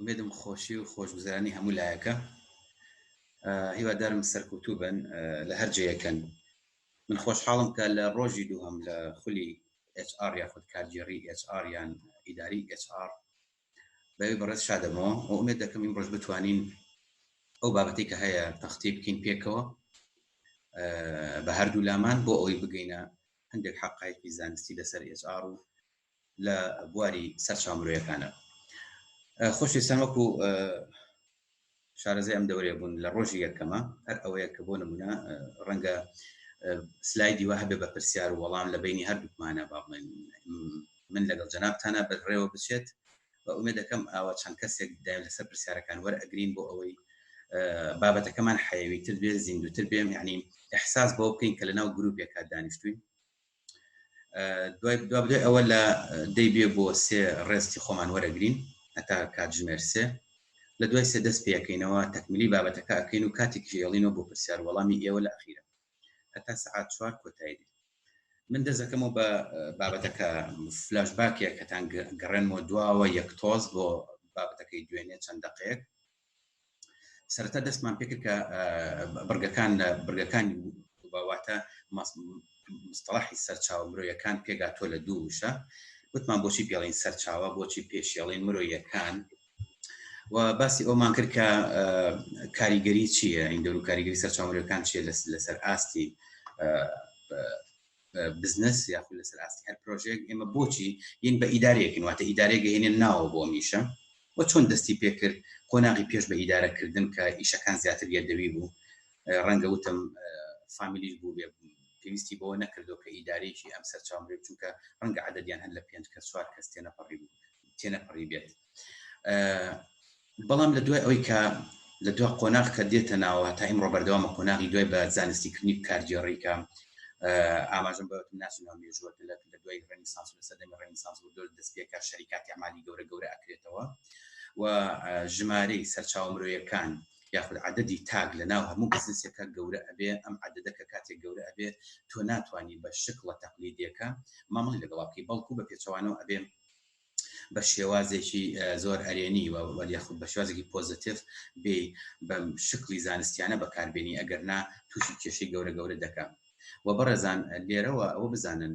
ئومێدم خۆشی و خۆشگوزرانی هەموو لایەکە هیوادارم سەرکوتوو بن لە هەر جەیەکەن من خۆشحاڵم کە لە ڕۆژی دووهم لە خولی HR یاخود کارگێڕی HR یان ئیداری HR بەوی بەڕێز شادەمەوە و ئومێد دەکەم ئیم ڕۆژ بتوانین ئەو بابەتی کە هەیە تەختی بکەین پێکەوە بە هەردوو لامان بۆ ئەوی بگەینە هەندێک حەقایەکی زانستی لەسەر ئێچ ئاڕ و لە بواری سەرچاو مرۆیەکانە خۆشویستان وەکو شارەزای ئەم دەورێ بوون لە ڕۆژی یەکەمە هەر ئەوەیە کە بۆ نمونە ڕەنگە سلایدی وە هەبێ بە پرسیار وەڵام لە بینی هەردووکمانە باڵێن من لەگەڵ جەنابتانە بەرڕێوە بچێت و ئومێد دەکەم ئاوا چەند کەسێک دایم لەسەر پرسیارەکان وەرئەگرین بۆ ئەوەی بابەتەکەمان حەیەویتر بێ زیندوتر بێم یعنی احساس بۆ بکەین کە لەناو گرروپێکا دانیشتوین دوای دوای ئەوە لە دەی بێ بۆ سێ ڕێستی خۆمان وەرەگرین هەتا کاتژمێر سێ لە دوای سێ دەست پێەکەینەوە تەکملی بابەتەکە ئەکەین و کاتێک ژێڵینەوە بۆ پرسیار وەڵامی ئێوە لە ئەخیرە هەتا سەعات چوار کۆتایی دێت من دەزەکەمەوە بە بابەتەکە فلاش باکێک هەتان گەڕێنەوە دواوە یەک تۆز بۆ بابەتەکەی دوێنێ چەند دقێک سەرتا دەستمان پێکرد کە بڕگەکان لە بڕگەکانی باواتە مستەڵحی سەرچاو مرۆیەکان پێگاتۆ لە دوو وشە وتمان بۆچی پێڵین سەرچاوە بۆچی پێشێڵین مرۆیەکان و باسی ئەومان کرد کە کاریگەری چییە این دەور و کاریگەری سەرچاوەکان چیە لەسەر ئاستی بزنس یاخود لەسەر ئاستی هەر پرۆژێک ئێمە بۆچی یین بە ئیدارەیەکن واتە ئیدارێک گەهێنێن ناوە بۆ میشە و چۆن دەستی پێکرد قۆناغی پێش بە ئیدارەکردن کە ئیشەکان زیاتر گردەوی بوو ڕەنگە وتم فامیلیش بوو بێ پێویستی بەوە نەکردو کە ئیدارێکی ئەم سەرچاو بێت چونکە ڕەنگە عددیان هەر لە پێنج کە چوار کەس تێنەپەڕی بوو تێنەپەڕی بێت بەڵام لە دوای ئەوەی کە لە دو قۆناغ کە دێتە ناوە تا ئیمڕۆ بەردەوامە قۆناغی دوای بە زانستی کردنی کارگێڕیکە ئاماژم بە ناسنەوە مێژووە لە دوای ڕێنیسانس لە سەدەمی ڕێنیسانس بۆ دۆر دەستپێکە شەریکاتی ئەمالی گەورە گەورە ئەکرێتەوە و ژمارەی سەرچاو مرۆیەکان یاخود عددی تاک لە ناو هەموو بزنسەکە گەورە ئەبێ ئەم عددەکە کاتێک گەورە ئەبێ تۆ ناتوانانی بە شکڵە تەقلیدیەکە مامەڵی لەگەڵاکەی بەڵکو بە پێچوانەوە ئەبێ بە شێوازێکی زۆر ئەرێنی و وەل یاخود بە شێوازێکی پۆزەتیف بێ بە شکلی زانستیانە بەکاربێنی ئەگەر نا تووشی کێشەی گەورە گەورە دەکە و بەڕێزان لێرەوە ئەوە بزانن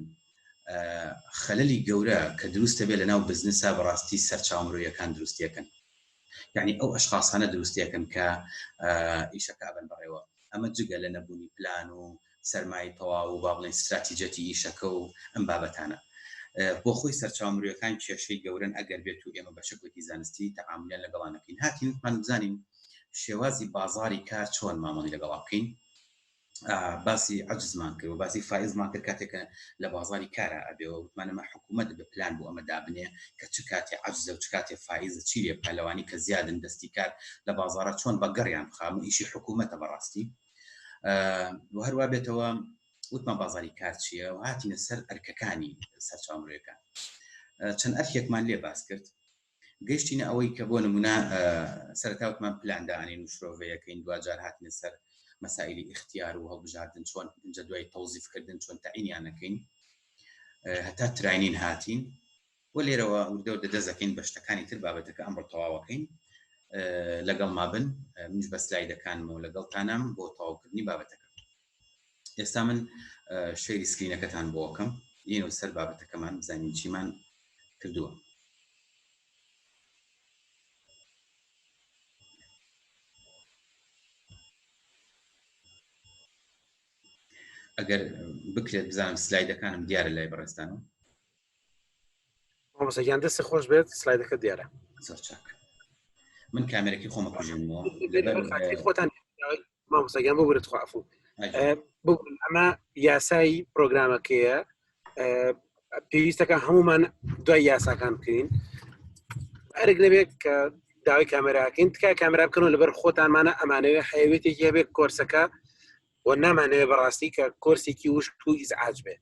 خەللی گەورە کە دروستە بێ لە ناو بزنسا بەڕاستی سەرچاو مرۆیەکان دروستیەکەن یەعنی ئەو ئەشخاسانە دروستیەکەن کە ئیشەکە ئەبەن بەڕێوە، ئەمە جگە لە نەبوونی پلان و سەرمایەی تەواو و با بڵێین ستراتیجەتی ئیشەکە و ئەم بابەتانە. بۆ خۆی سەرچاوە مرۆیەکان کێشەی گەورەن ئەگەر بێت و ئێمە بە شەکڵێکی زانستی تەعامولیان لەگەڵا نەکەین، هاتین وتمان بزانین شێوازی بازاڕی کار چۆن مامەڵی لەگەڵا بکەین، باسی عەجزمان کرد و باسی فایزمان کرد کاتێک کە لە بازاری کارا ئەبێ و وتمان ئەمە حکوومەت بە پلان بۆ ئەمە دابنێ کە چ کاتێ عەجزە و چ کاتێ فایزە چی لێ بکا لەوانی کە زیادن دەستی کار لە بازارە چۆن بە گەڕیان بخا هەموو ئیشی حکوومەتە بەڕاستی و هەروە بێتەوە وتمان بازاری کار چییە و هاتینە سەر ئەرکەکانی سەرچاو مرۆیەکان چەند ئەرکێکمان لێ باس کرد گەیشتینە ئەوەی کە بۆ نمونە سەرەتا وتمان پلان دانین و شرۆڤەیەکەین دواجار هاتنە سەر مەسائلی ئیختیار و هەڵبژاردن چۆن ئینجا دوای تەوزیفکردن چۆن تەعینیان نەکەین هەتا تراینین هاتین و لێرەوە وردەوە دەدەزەکەین بە شتەکانی تر بابەتەکە ئەمڕۆ تەواوەکەین لەگەڵ مابن منش بە سلایدەکانمەوە لەگەڵتانام بۆ تەواوکردنی بابەتەکە ئێستا من شەیری سکرینەکەتان بۆکەم یەن و سەر بابەتەکەمان بزانین چیمان کردووە ئەگەر بکرێت بزانم سلایدەکانم دیارە لای بەڕێستان و مامۆسەگیان دەستی خۆش بێت سلایدەکە دیارە زۆر چاک من کامێرەکی خۆمە کوژێنەوە خۆتان مامۆستاگیان بۆ برت خوافو بگون ئەمە یاسایی پرۆگرامەکەیە پێویستەکە هەمومان دوای یاساکان بکەین ئەرگ نەبێت کە داوای کامێراکەین تکای کامرا بکەنەوە لەبەر خۆتانمانە ئەمانەوێ حەیەوێتێکی هەبێت کۆرسەکە و نامانەوێ بەڕاستی کە کۆرسێکی وشک و ئیزعاج بێت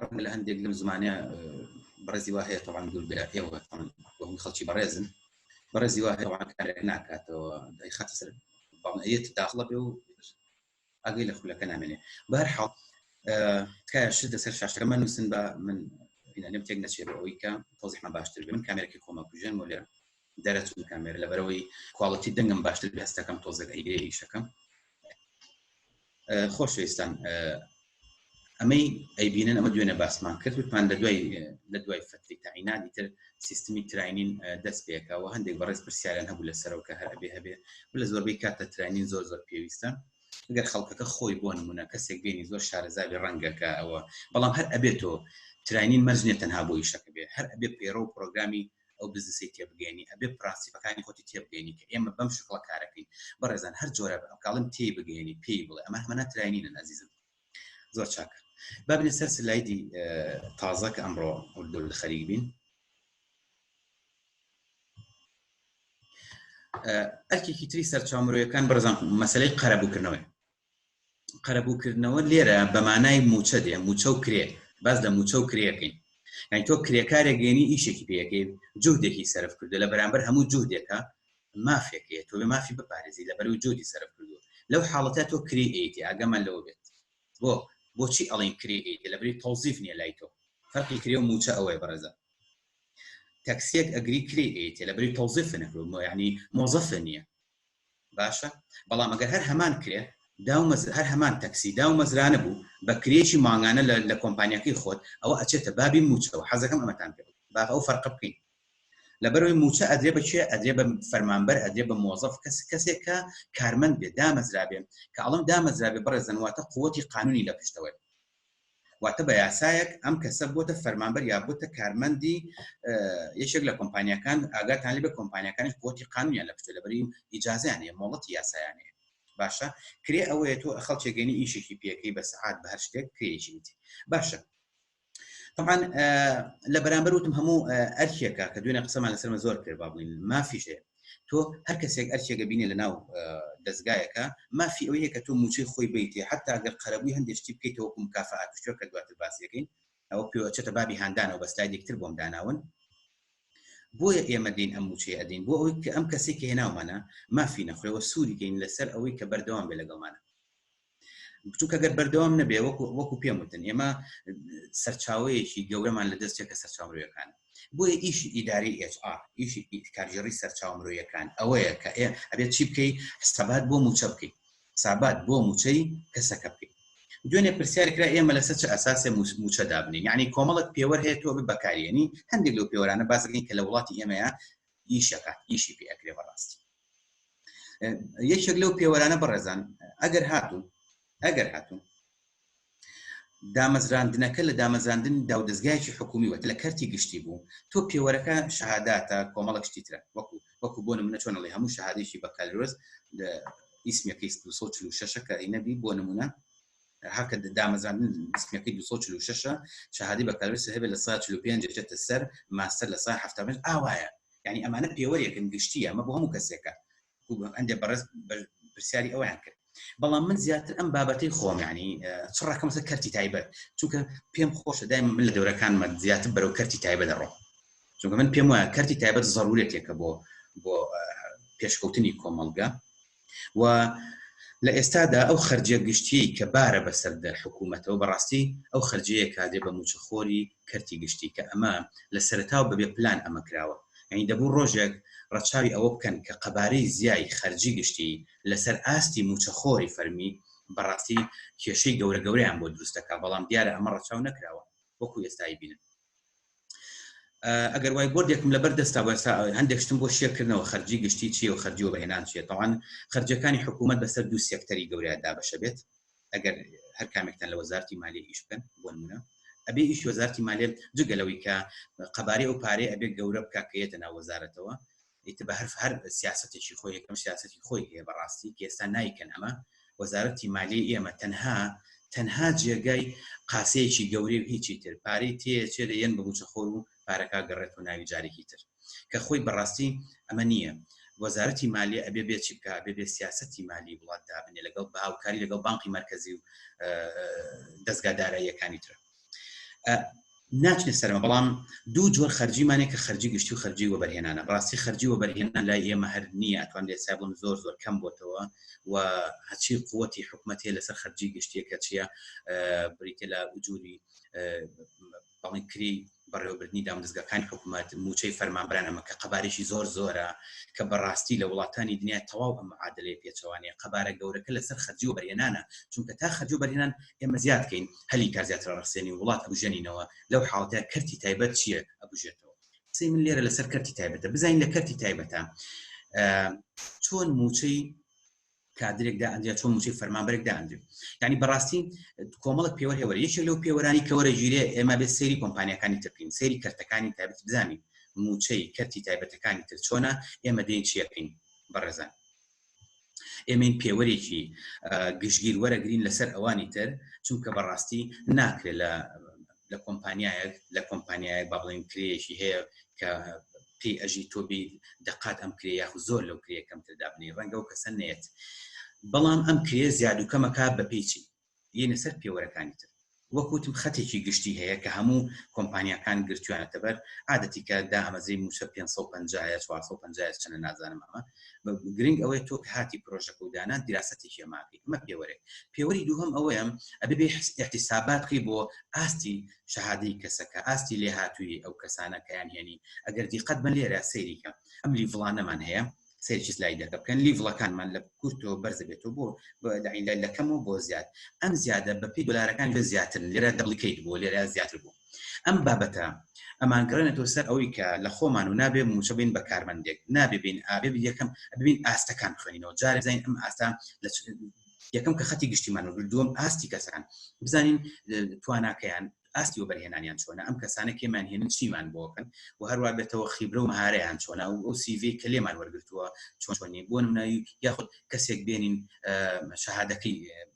ڕەنگە لە هەندێک لەم زمانە بەڕێزی وا هەیە تەوان دوور بێ ئێوە بەم خەڵکی بەڕێزن بەڕێزی وا هەیە کارێک ناکاتەوە دای خەتە سەر بەڵێت داخڵە بێ و ئەگەی لە خولەکە نامێنێ بەر حاڵ تکایە شت لەسەر شاشەکە من نووسن بە من لەم تێک نەچێ بە ئەوی کە تۆزیحمە باشتر بێ من کامێرەکی خۆمە کوژێن و لێ دەرەچوون کامێر لەبەرەوەی کوواڵەتی دەنگم باشتر بێستەکەم تۆزەک ئەیگرێ ئیشەکەم خۆشویستان ئەمەی ئەیبینن ئەمە دوێنە باسمان کرد وتمان لە دوای لە دوای فتری تاینانی تر سیستمی تراینین دەست پێکەوە هەندێک بەڕێز پرسیارن هەبوو لە سەرەوە کە هەربێ هەبێ لە زۆربەی کاتە تراینین زۆر زۆر پێویستە گەر خەڵکەکە خۆی بۆ نمونە کەسێک بینی زۆر شارەزاوی ڕەنگەکە ئەوە بەڵام هەر ئەبێتەوە تراینین مەرجێت تەنها بۆ ئیشەکە بێ هەر ئەبێ پێڕە و پرۆگرامی ئەو بزنسەی تێبگەیەنی ئەبێ پرەنسیپەکانی خۆتی تێبگەیەنی کە ئێمە بەم شکڵە کارەکەین بەڕێزان هەر جۆرە ئەکڵم تێی بگەیەنی پێی بڵێ ئەمە هەمە ناتراینینە ئازیزم زۆر چاک بابنێ سەر سلایدی تازە کە ئەمڕۆ ئەو لە خەریک بین ئەرکێکی تری سەرچاومرۆیەکان بەرزان مەسلەی قەرەبووکردنەوەی قەرەبوو کردنەوە لێرە بە مانای مووچە دێ مووچە و کرێ باس لە مووچە و کرێەکەین یعنی تۆ کرێکارێک گەێنی ئیشێکی پێەکەی جوودێکی سەرف کردو لە بەرامبەر هەموو جوودێکە مافێکەیە تۆ بێ مافی بپارێزی لە بەرو جوودی سەرف کردو لەو حاڵەتە تۆ کری ئەیتی ئاگەمان لەوە بێت بۆ بۆچی ئەڵین کری ئەیتی لە بری تەوزیف نییە لای تۆ فەرقی کرێ و مووچە ئەوەیە بەڕێزە تەکسیەک ئەگری کری ئەیتی لە بری تەوزیف نەکرو یعنی مۆزەفە نییە باشە بەڵام ئەگەر هەر هەمان کرێ داو مەزر هەر هەمان تەکسی داو مەزرانە بوو بە کرێیەکی مانگانە لە لە کۆمپانیاکەی خۆت ئەوە ئەچێتە بابی مووچەوە حەزەکەم ئەمەتان پێ بڵێم با ئەو فەرقە بکەین لەبەرەوەی مووچە ئەدرێ بە کوێ ئەدرێ بە فەرمانبەر ئەدرێ بە مۆزەف کەس کەسێک کە کارمەند بێ دامەزرابێ کە ئەڵم دامەزرابێ بەڕێزن واتە قووەتی قانونی لە پشتەوەی واتە بە یاسایەک ئەم کەسە بۆتە فەرمانبەر یا بۆتە کارمەندی یەکێک لە کۆمپانیەکان ئاگاتان لێ بە کۆمپانیەکانش بۆتی قانونیان لە پشتە لەبری ئیجازیانەیە مۆڵەتی یاسایانەیە باشە کرێ ئەوەیە تۆ خەڵکێگەنی ئیشێکی پێەکەی بە سعات بە هەر شتێک کرێژیت باشە طبعا لە بەرامبەر وتم هەموو ئەرکێکە کە دوێنێ قسەمان لەسەرمە زۆر کرد بابووین مافیشێ تۆ هەر کەسێک ئەرکێک ئەبینێ لەناو دەزگایەکە مافی ئەوەیە کە تۆ موچەی خۆی بیتێ حتا گەر قەرەبووی هەندێک شتی بکەیت تۆکو مکافات و شوێکە دواتر باسیەکەین ئەوە پێوەچێتە بابی هاندانەوە بە سلایدێکتر بۆم داناون بۆیە ئێمە دین ئەم موچەیە ئەدین بۆ ئەوەی کە ئەم کەسێکی هێناومانە مافی نەخۆێەوە سووریکەین لەسەر ئەوەی کە بەردەوام بێ لەگەڵمانە چونکە گەر بەردەوام نەبێ وەکو وەکو پێم وتن ئێمە سەرچاوەیەکی گەورەمان لە دەستێکە سەرچاوەکان بۆیە ئیش ئیداری HR ئیش کارژێڕی سەرچاو مرۆیەکان ئەوەیە کە ئێ ئەبێت چی بکەی حسابات بۆ موچە بکەیت حسابات بۆ موچەی کەسەکە بکەیت دوێنێ پرسیارکرا ئێمە لەسەر چ ئەساسێ موچە دابنین یعنی کۆمەڵک پێوەر هەیە تۆ بەکارێنی هەندێک لەو پێوەرانە بازگەین کە لە وڵاتی ئێمەیە ئیش ئەکات ئیشی پێ ئەکرێ بەڕاستی یەکێک لەو پێوەرانە بەڕێزان ئەگەر هاتوو ئەگەر هاتوو دامەزراندنەکە لە دامەزاندن داودەستگایکی حکومی وەت لە کەرتی گشتی بوو تۆ پێوەرەکە شەهاداتە کۆمەڵک شتی ترە وەکو وەکو بۆ نمونە چۆن لە هەموو شەهادێکی بەکالۆز ئیسمەکەی 1940 کە نەبی بۆ نمونە هەکە دامەزراندن دیسپلینەکەی دوو سەد و چل و شەشە شەهادەی بەکالۆریۆس هەبێت لە سەدا چل و پێنج دەچێتە سەر ماستەر لە سەدا حەفتا و پێنج ئاوایە یعنی ئەمانە پێوەرێکن گشتییە ئەمە بۆ هەموو کەسێکە هەندێک بەڕێز پرسیاری ئەویان کرد بەڵام من زیاتر ئەم بابەتی خۆم ینی چڕەکەمسە کەرتی تایبەت چونکە پێم خۆشە دایم من لە دەورەکانمە زیاتر بەرەو کەرتی تایبە دەڕۆم چونکە من پێم وایە کەرتی تایبەت زەڕورێتێکە بۆ بۆ پێشکەوتنی کۆمەلگا و لە ئێستادا ئەو خەرجیە گشتیەی کە بارە بەسەر حکومەتەوە بەڕاستی ئەو خەرجیەیە کادێ بە موچەخۆری کەرتی گشتی کە ئەمە لە سەرەتاوە بە بێ پلان ئەمە کراوە یانی دەبوو ڕۆژێک ڕەچاوی ئەوە بکەن کە قەبارەی زیای خەرجی گشتی لەسەر ئاستی موچەخۆری فەرمی بەڕاستی کێشەی گەورە گەورەیان بۆ دروست دەکا بەڵام دیارە ئەمە ڕەچاو نەکراوە وەکو ئێستا ئەیبینن. ئەگەر وای بردێکم لەبەر دەستا بەسا هەندێک شتم بۆ شێکردنەوە خەرجی گشتی چیە و خەرجی و بەهێنان چێت تاوان خرجەکانی حکوومەت بەسەر دوو سێکتەری گەوریان دابەشە بێت ئەگەر هەر کامێکتان لە وەزارتی مالی ئیش بکەن بۆ نمونە ئەبێ ئیش وەزارتی مالێت جگەلەوەی کە قەبارەی ئەو پارەیە ئەبێ گەورە بکە کە یەتە ناو وەزارەتەوە ئیتر بە هەرف هەر سیاسەتێکی خۆی یەکەم سیاسەتی خۆی هەیە بەڕاستی کێستا نایکەن ئەمە وەزارەتی مالی ئێمە تەنها تەنها جێگای قاسەیەکی گەورەی و هیچی تر پارەی تێچێ لە یەن بەگوچە خۆر و پارەکە گەڕێت و ناوی جارێکی تر کە خۆی بەڕاستی ئەمە نییە وەزارەتی مالی ئەبێ بێ چی بکە بێ بێ سیاستی مالی وڵات دابنێ لەگەڵ باوکاری لەگەڵ بانقی مرکزی و دەستگا داراییەکانی ترە ناچێت سەرمە بەڵام دوو جۆر خەرجیمانێک کە خەرجی گشتی و خەرجی وەبەرهێنانە ڕاستی خەرجی وەبەرهێنان لای ئێمە هەر نییە ئەتوان لێ سابوون زۆر زۆر کەم بۆتەوە و هەچی قوتی حکوومەت هەیە لەسەر خەرجی گشتیەکە چیە بریتە لە جووری بەڵی کری بەڕێوەبردنی دامودەزگاکانی حکومەت، مووچەی فەرمانبەران ئەمە کە قەبارەیەکی زۆر زۆرە کە بەڕاستی لە وڵاتانی دنیا تەواو ئەم معادلەیە پێچەوانەیە قەبارە گەورەکە لەسەر خەرجی وەبەرهێنانە چونکە تا خەرجی وەبەرهێنان ئێمە زیاد کەین هەلی کار زیاتر ئەڕەخسێنین وڵات ئەبوژێنینەوە لەو حاڵەتەیە کەرتی تایبەت چییە ئەبوژێتەوە قسەی من لێرە لەسەر کەرتی تایبەتە بزانین لە کەرتی تایبەتە چۆن مووچەی کادرێک دائەنرێت چۆن موچەی فەرمانبەرێک دائەنرێت یعنی بەڕاستی کۆمەڵک پێوەر هێوەر یەکێک لەو پێوەرانی کە وەرە گیرێ ئێمە بێت سەیری کۆمپانیەکانی ترکین سەیری کەرتەکانی تایبەت بزانین موچەی کەرتی تایبەتەکانی تر چۆنە ئێمە دێن چیەکەین بەڕێزان ئێمەین پێوەرێکی گشتگیر وەرەگرین لەسەر ئەوانی تر چونکە بەڕاستی ناکرێت لە لە کۆمپانیایەک لە کۆمپانیایەک با بڵێن کرێشی هەیە کە پێی ئەژی تۆبی دەقات ئەم کرێ یاخ زۆر لەو کرێ کەمتر دابنی ڕەنگە و کەسە نێت بەڵام ئەم کرێ زیاد و کەمەکە بە پێچی یەنە سەر پێوەرەکانی تر وەکوتم خەتێکی گشتی هەیە کە هەموو کۆمپانیەکان گرتوانەتەبەر عادەتیکە دا ئەمەزری موچە 550 450 چەنە نازانم ئەمە گرنگ ئەوەیە تۆ کە هاتی پرۆژەکە و دانان دیراسەتی هێماکەی ئەمە پێوەرێک پێوەری دووهم ئەوەیەم ئەبێ بێ احتیسابات بکەی بۆ ئاستی شەهادی کەسەکە ئاستی لێ هاتووی ئەو کەسانە کەیان هێنی ئەگەر دیقەت بە لێرە سەیریکە ئەم لیڤڵانەمان هەیە سەرچ لای دەکە بکەن لیڤڵەکانمان لە کورتەوە بەرزە بێتەوە بۆ لەکەمەوە بۆ زیاد ئەم زیادە بە پێی دلارەکان لە زیاترن لێرە دەڵیکەیت بۆ لێرە زیاتر بوو ئەم بابەتە ئەمانگەڕێنێتەوە سەر ئەوەی کە لە خۆمان و نابێ مووچە بین بە کارمەندێک، نابێ بین ئابێ بین یەکەم ببین ئاستەکان بخوێنینەوە جارێ بزانین ئەم ئاستە لە یەکەم کە خەتی گشتیمان و دووەم ئاستی کەسان بزانین تواناکەیان ئاستی و بەرهێنانیان چۆنە ئەم کەسانە کێمان هێنن چیمان بۆکەن و هەروە بێتەوە خیبرە و مهارەیان چۆنا و ئەو سیڤ کە لێمان وەرگتووە چۆنی بۆ نمونایی یاخود کەسێک بێنین شەهادەکەی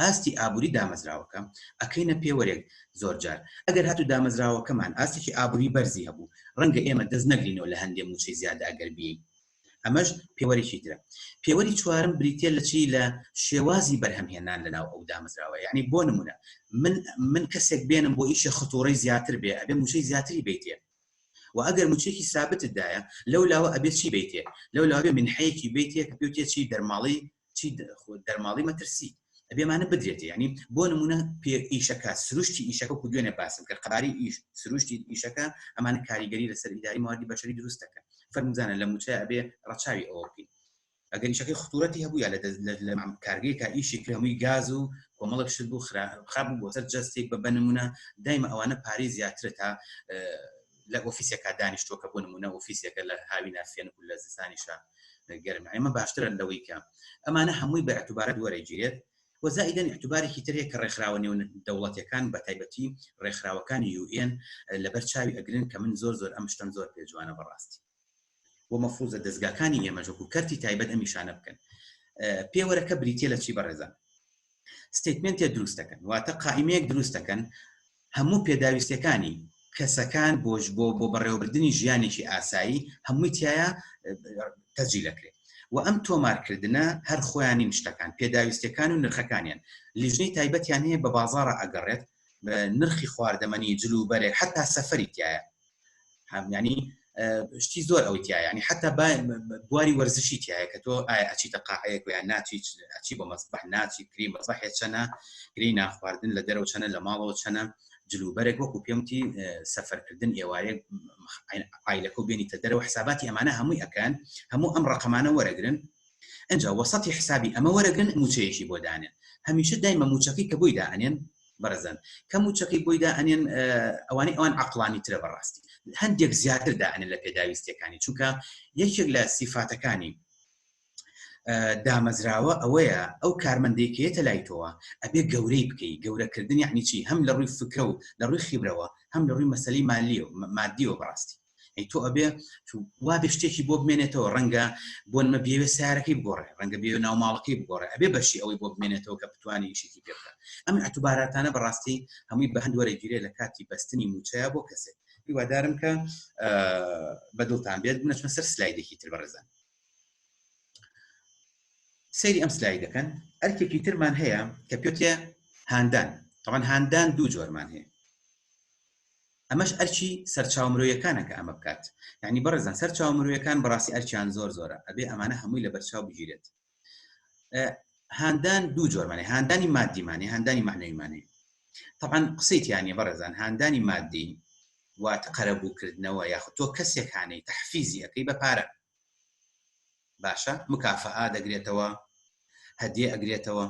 ئاستی ئابوری دامەزراوەکە ئەکەینە پێوەرێک، زۆرجار ئەگەر هاتوو دامەزراوەکەمان ئاستێکی ئابوری بەرزی هەبوو ڕەنگە ئێمە دەست نەگرینەوە لە هەندێ موچەی زیادە ئەگەر بیەین ئەمەش پێوەرێکی ترە. پێوەری چوارم بریتیە لە چی لە شێوازی بەرهەم هێنان لە ناو ئەو دامەزراوە یانی بۆ نمونە من من کەسێک بێنم بۆ ئیشێ ختوڕەی زیاتر بێ ئەبێ موچەی زیاتری بەیتێ وە ئەگەر موچەیەکی سابتت دایە لەو لاوە ئەبێ چی بەیتێ لەو لاوە ئەبێ منحەیەکی بەیتێ کە پێوتێ چی دەرماڵی چی دەرماڵی مەترسی ئەبێ ئەمانە بدرێتێ یانی بۆ نمونە پێ ئیشەکە سروشتی ئیشەکە و دوێنێ باسم کرد قەباری ئیش سروشتی ئیشەکە ئەمانە کاریگەری لەسەر ئیداری مواردی بەشەری دروست دەکەن فەرموزانە لە موچە ئەبێ ڕەچاوی ئەوە بکەین ئەگەر ئیشەکەی خطورەتی هەبوو یا کارگەیەکە ئیشی کرد هەمووی گاز و کۆمەڵێک شت بوو خراپ بوو بۆ سەر جەستێک بە بنمونە دایمە ئەوانە پارەی زیاترە تا لە ئۆفیسێکا دانیشتووە کە بۆ نمونە ئۆفیسێکە لە هاوی ناسیێن و لە زستانیشە گەرم ئەمە باشترە لەوەی کە ئەمانە هەمووی بە ئەتوبارەت وەرەگیرێت وەزائیدەن احتوبارێکی ترێک کە ڕێکخراوە نێو دەوڵەتەکان بە تایبەتی ڕێکخراوەکانی یوئێن لەبەر چاوی ئەگرن کە من زۆر زۆر ئەم شتەم زۆر پێجوانە بەڕاستی بۆ مەفروزە دەزگاکانی ئێمەش وەکو کەرتی تایبەت ئەم نیشانە بکەن پێوەرەکە بریتە لە چی بەڕێزان ستیتمنتێ دروست دەکەن واتە قائیمەیەک دروست دەکەن هەموو پێداویستەکانی کەسەکان بۆش بۆ بۆ بەڕێوەبردننی ژیانێکی ئاسایی هەمووی تایە تەجی دەکرێت و ئەم تۆمارکردنە هەر خۆیانی شتەکان پێداویستەکان و نرخەکانیان لیژنەی تایبەتیان هەیە بە بازارە ئەگەڕێت نرخی خواردەمەنی جلوبەرێک حتا سەفری تایە ینی شتی زۆر ئەوەی تیا ینی حتا بواری وەرزشی تایە کە تۆ ئەچیتە قاعەیە یان ناچیت ئەچی بۆ مەسبح ناچی کری مەسبح چەنە گری ناخواردن لە دەرەوە چەنە لە ماڵەوە چەنە جلوبەرێک وەکو پێمتی سەفەرکردن ئێوارێک ئایلەکە و بێنیتە دەرەوە حساباتی ئەمانە هەمووی ئەکەن هەموو ئەم ڕقەمانە وەرەگرن ئەجا وەسەتی حسابی ئەمە وەرەگرن موچەیەکی بۆ دانێن هەمیشە دایمە موچەکەی کە بۆی دانێن بەڕێزان کە موچەکەی بۆی دا ئەنێن ئەوانەی ئەوان عقلانی ترە بەڕاستی هەندێک زیاتر دا ئەنێن لە پێداویستەکانی چونکە یەکێک لە سیفاتەکانی دامەزراوە ئەوەیە ئەو کارمەندێکێتە لای تۆوە ئەبێ گەورەی بکەی گەورەکردنی عنیچی هەم لە ڕووی فکرە و لە ڕووی خیبرەوە هەم لە ڕووی مەسلی مالی و مادی و بەڕاستی ئەی تۆ ئەبێ وابێ شتێکی بۆ بمێنێتەوە ڕەنگە بۆ نمە بێوێ سارەکەی بگۆڕێ ڕەنگە بێ ناوماڵەکەی بگۆڕێ ئەبێ بەشی ئەوەی بۆ بمێنێتەوە کە بتوانانی شتێکی پێ بکە ئەم ئەتوباراتانە بەڕاستی هەمووی بە هەند وەرەگیرێ لە کاتی بەستنی موچەیە بۆ کەسێک هیوادارم کە بەدڵتان بێت بنەچمە سەر سلایدێکی تر بەڕێزان سەیری ئەم سلای دەکەن ئەرکێکی ترمان هەیە کە پێێ هاندان تەوان هاندان دوو جۆرمان هەیە ئەمەش ئەرکی سەرچاوە مرۆیەکانە کە ئەمە بکات یانی بەڕێزان سەر چاوە مرۆیەکان بەڕاستی ئەرکیان زۆر زۆرە ئەبێ ئەمانە هەمووی لە بەرچاو بگیرێت هاندان دوو جۆرمانێ هاندانی مادیمانێ هاندانی معنەویمانێ طبعا قسەی تیانە بەڕێزان هاندانی مادی واتە قەرەبووکردنەوە یاخود تۆ کەسێکانەی تحفیزی ئەەکەی بە پارە باشە مکافەئا دەگرێتەوە هەدیە ئەگرێتەوە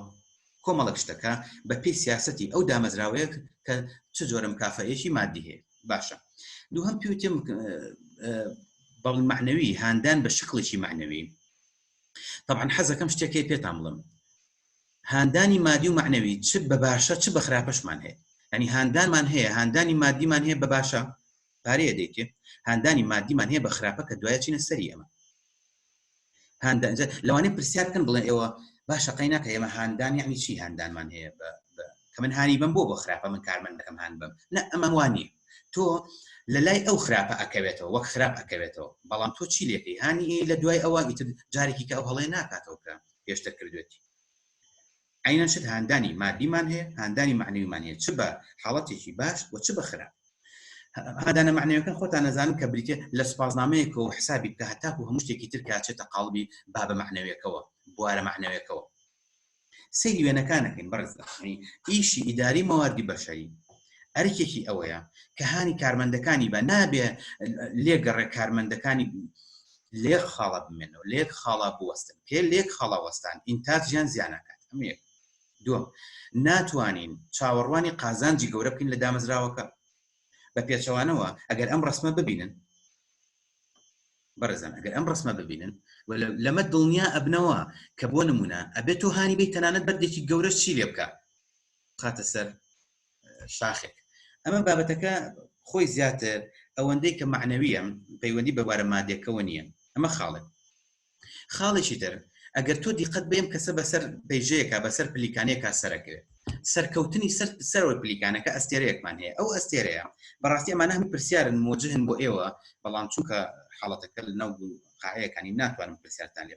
کۆمەڵک شتەکە بە پێی سیاستی ئەو دامەزراوەیە کە چ جۆرە مکافەیەکی مادی هەیە باشە دووهم پیوتێ بەڵ معنەوی هاندان بە شکڵێکی معنەوی طبعا حەزەکەم شتێکی پێتان بڵم هاندانی مادی و معنەوی چ بە باشە چ بە خراپەشمان هەیە ینی هاندانمان هەیە هاندانی مادیمان هەیە بە باشە پارەیە دەیکێ هاندانی مادیمان هەیە بە خراپە کە دوایە چینە سەری ئەمە هاندانجە لەوانێ پرسیار بکەن بڵێن ئێوە باشە قەی ناکە ئێمە هاندان یعنی چی هاندانمان هەیە بە کە من هانی بم بۆ بە خراپە من کارمەند دەکەم هاان بم نە ئەمە وانی تۆ لە لای ئەو خراپە ئەکەوێتەوە وەک خراپ ئەکەوێتەوە بەڵام تۆ چی لەکەی هانی لە دوای ئەوە ئیتر جارێکی کە ئەو هەڵێ ناکاتەوە کە پێشتر کردوێتی عەینەن چ هاندانی مادیمان هەیە، هاندانی مەعنەویمان هەیە، چ بە حاڵەتێکی باش و چ بە خراپ. هاندانە مەعنەویەکان خۆتان ئەزانن کە بریتییە لە سوپاسنامەیەکەوە و حسابی بکە هەتاکوو هەموو شتێکی تر کە ئەچێتە قاڵبی بابە مەعنەویەکەوە، بوارە مەعنەویەکەوە. سەیری وێنەکان ئەکەین بەڕێزان. ئیشی ئیداری مەواردی بەشەری ئەرکێکی ئەوەیە کە هانی کارمەندەکانی بە، نابێ لێگەڕێ کارمەندەکانی لەیەک خاڵا بمێنەوە لەیەک خاڵا بوەستن پێ لەیەک خاڵا وەستان ئینتاج یان زیان ئەکات ئەمە یەک دووەم ناتوانین چاوەڕوانی قازانجی گەورە بکەین لە دامەزراوەکە بە پێچەوانەوە ئەگەر ئەم ڕسمە ببینن بەڕێزان ئەگەر ئەم ڕسمە ببینن لەمە دڵنیا ئەبنەوە کە بۆ نمونە ئەبێت تۆ هانی بی تەنانەت بەردێکی گەورە چی لێ بکە خاتە سەر شاخێک ئەمە بابەتەکە خۆی زیاتر ئەوەندەی کە معنەویە پەیوەندی بە بارە مادێکەوە نییە ئەمە خاڵێک خاڵێکی تر ئەگەر تۆ دیقەت بێم کەسە بەسەر پێژەیەکە بەسەر پلیکانێکا سەرەکەوێت سەرکەوتنی سەر سەرەوە پلیکانەکە ئەستێرەیەکمان هەیە ئەو ئەستێرەیە بەڕاستی ئەمانە هەم پرسیارن مۆجهن بۆ ئێوە بەڵام چونکە حاڵەتەکە لە ناو قاعەکانی ناتوانم پرسیارتان لێ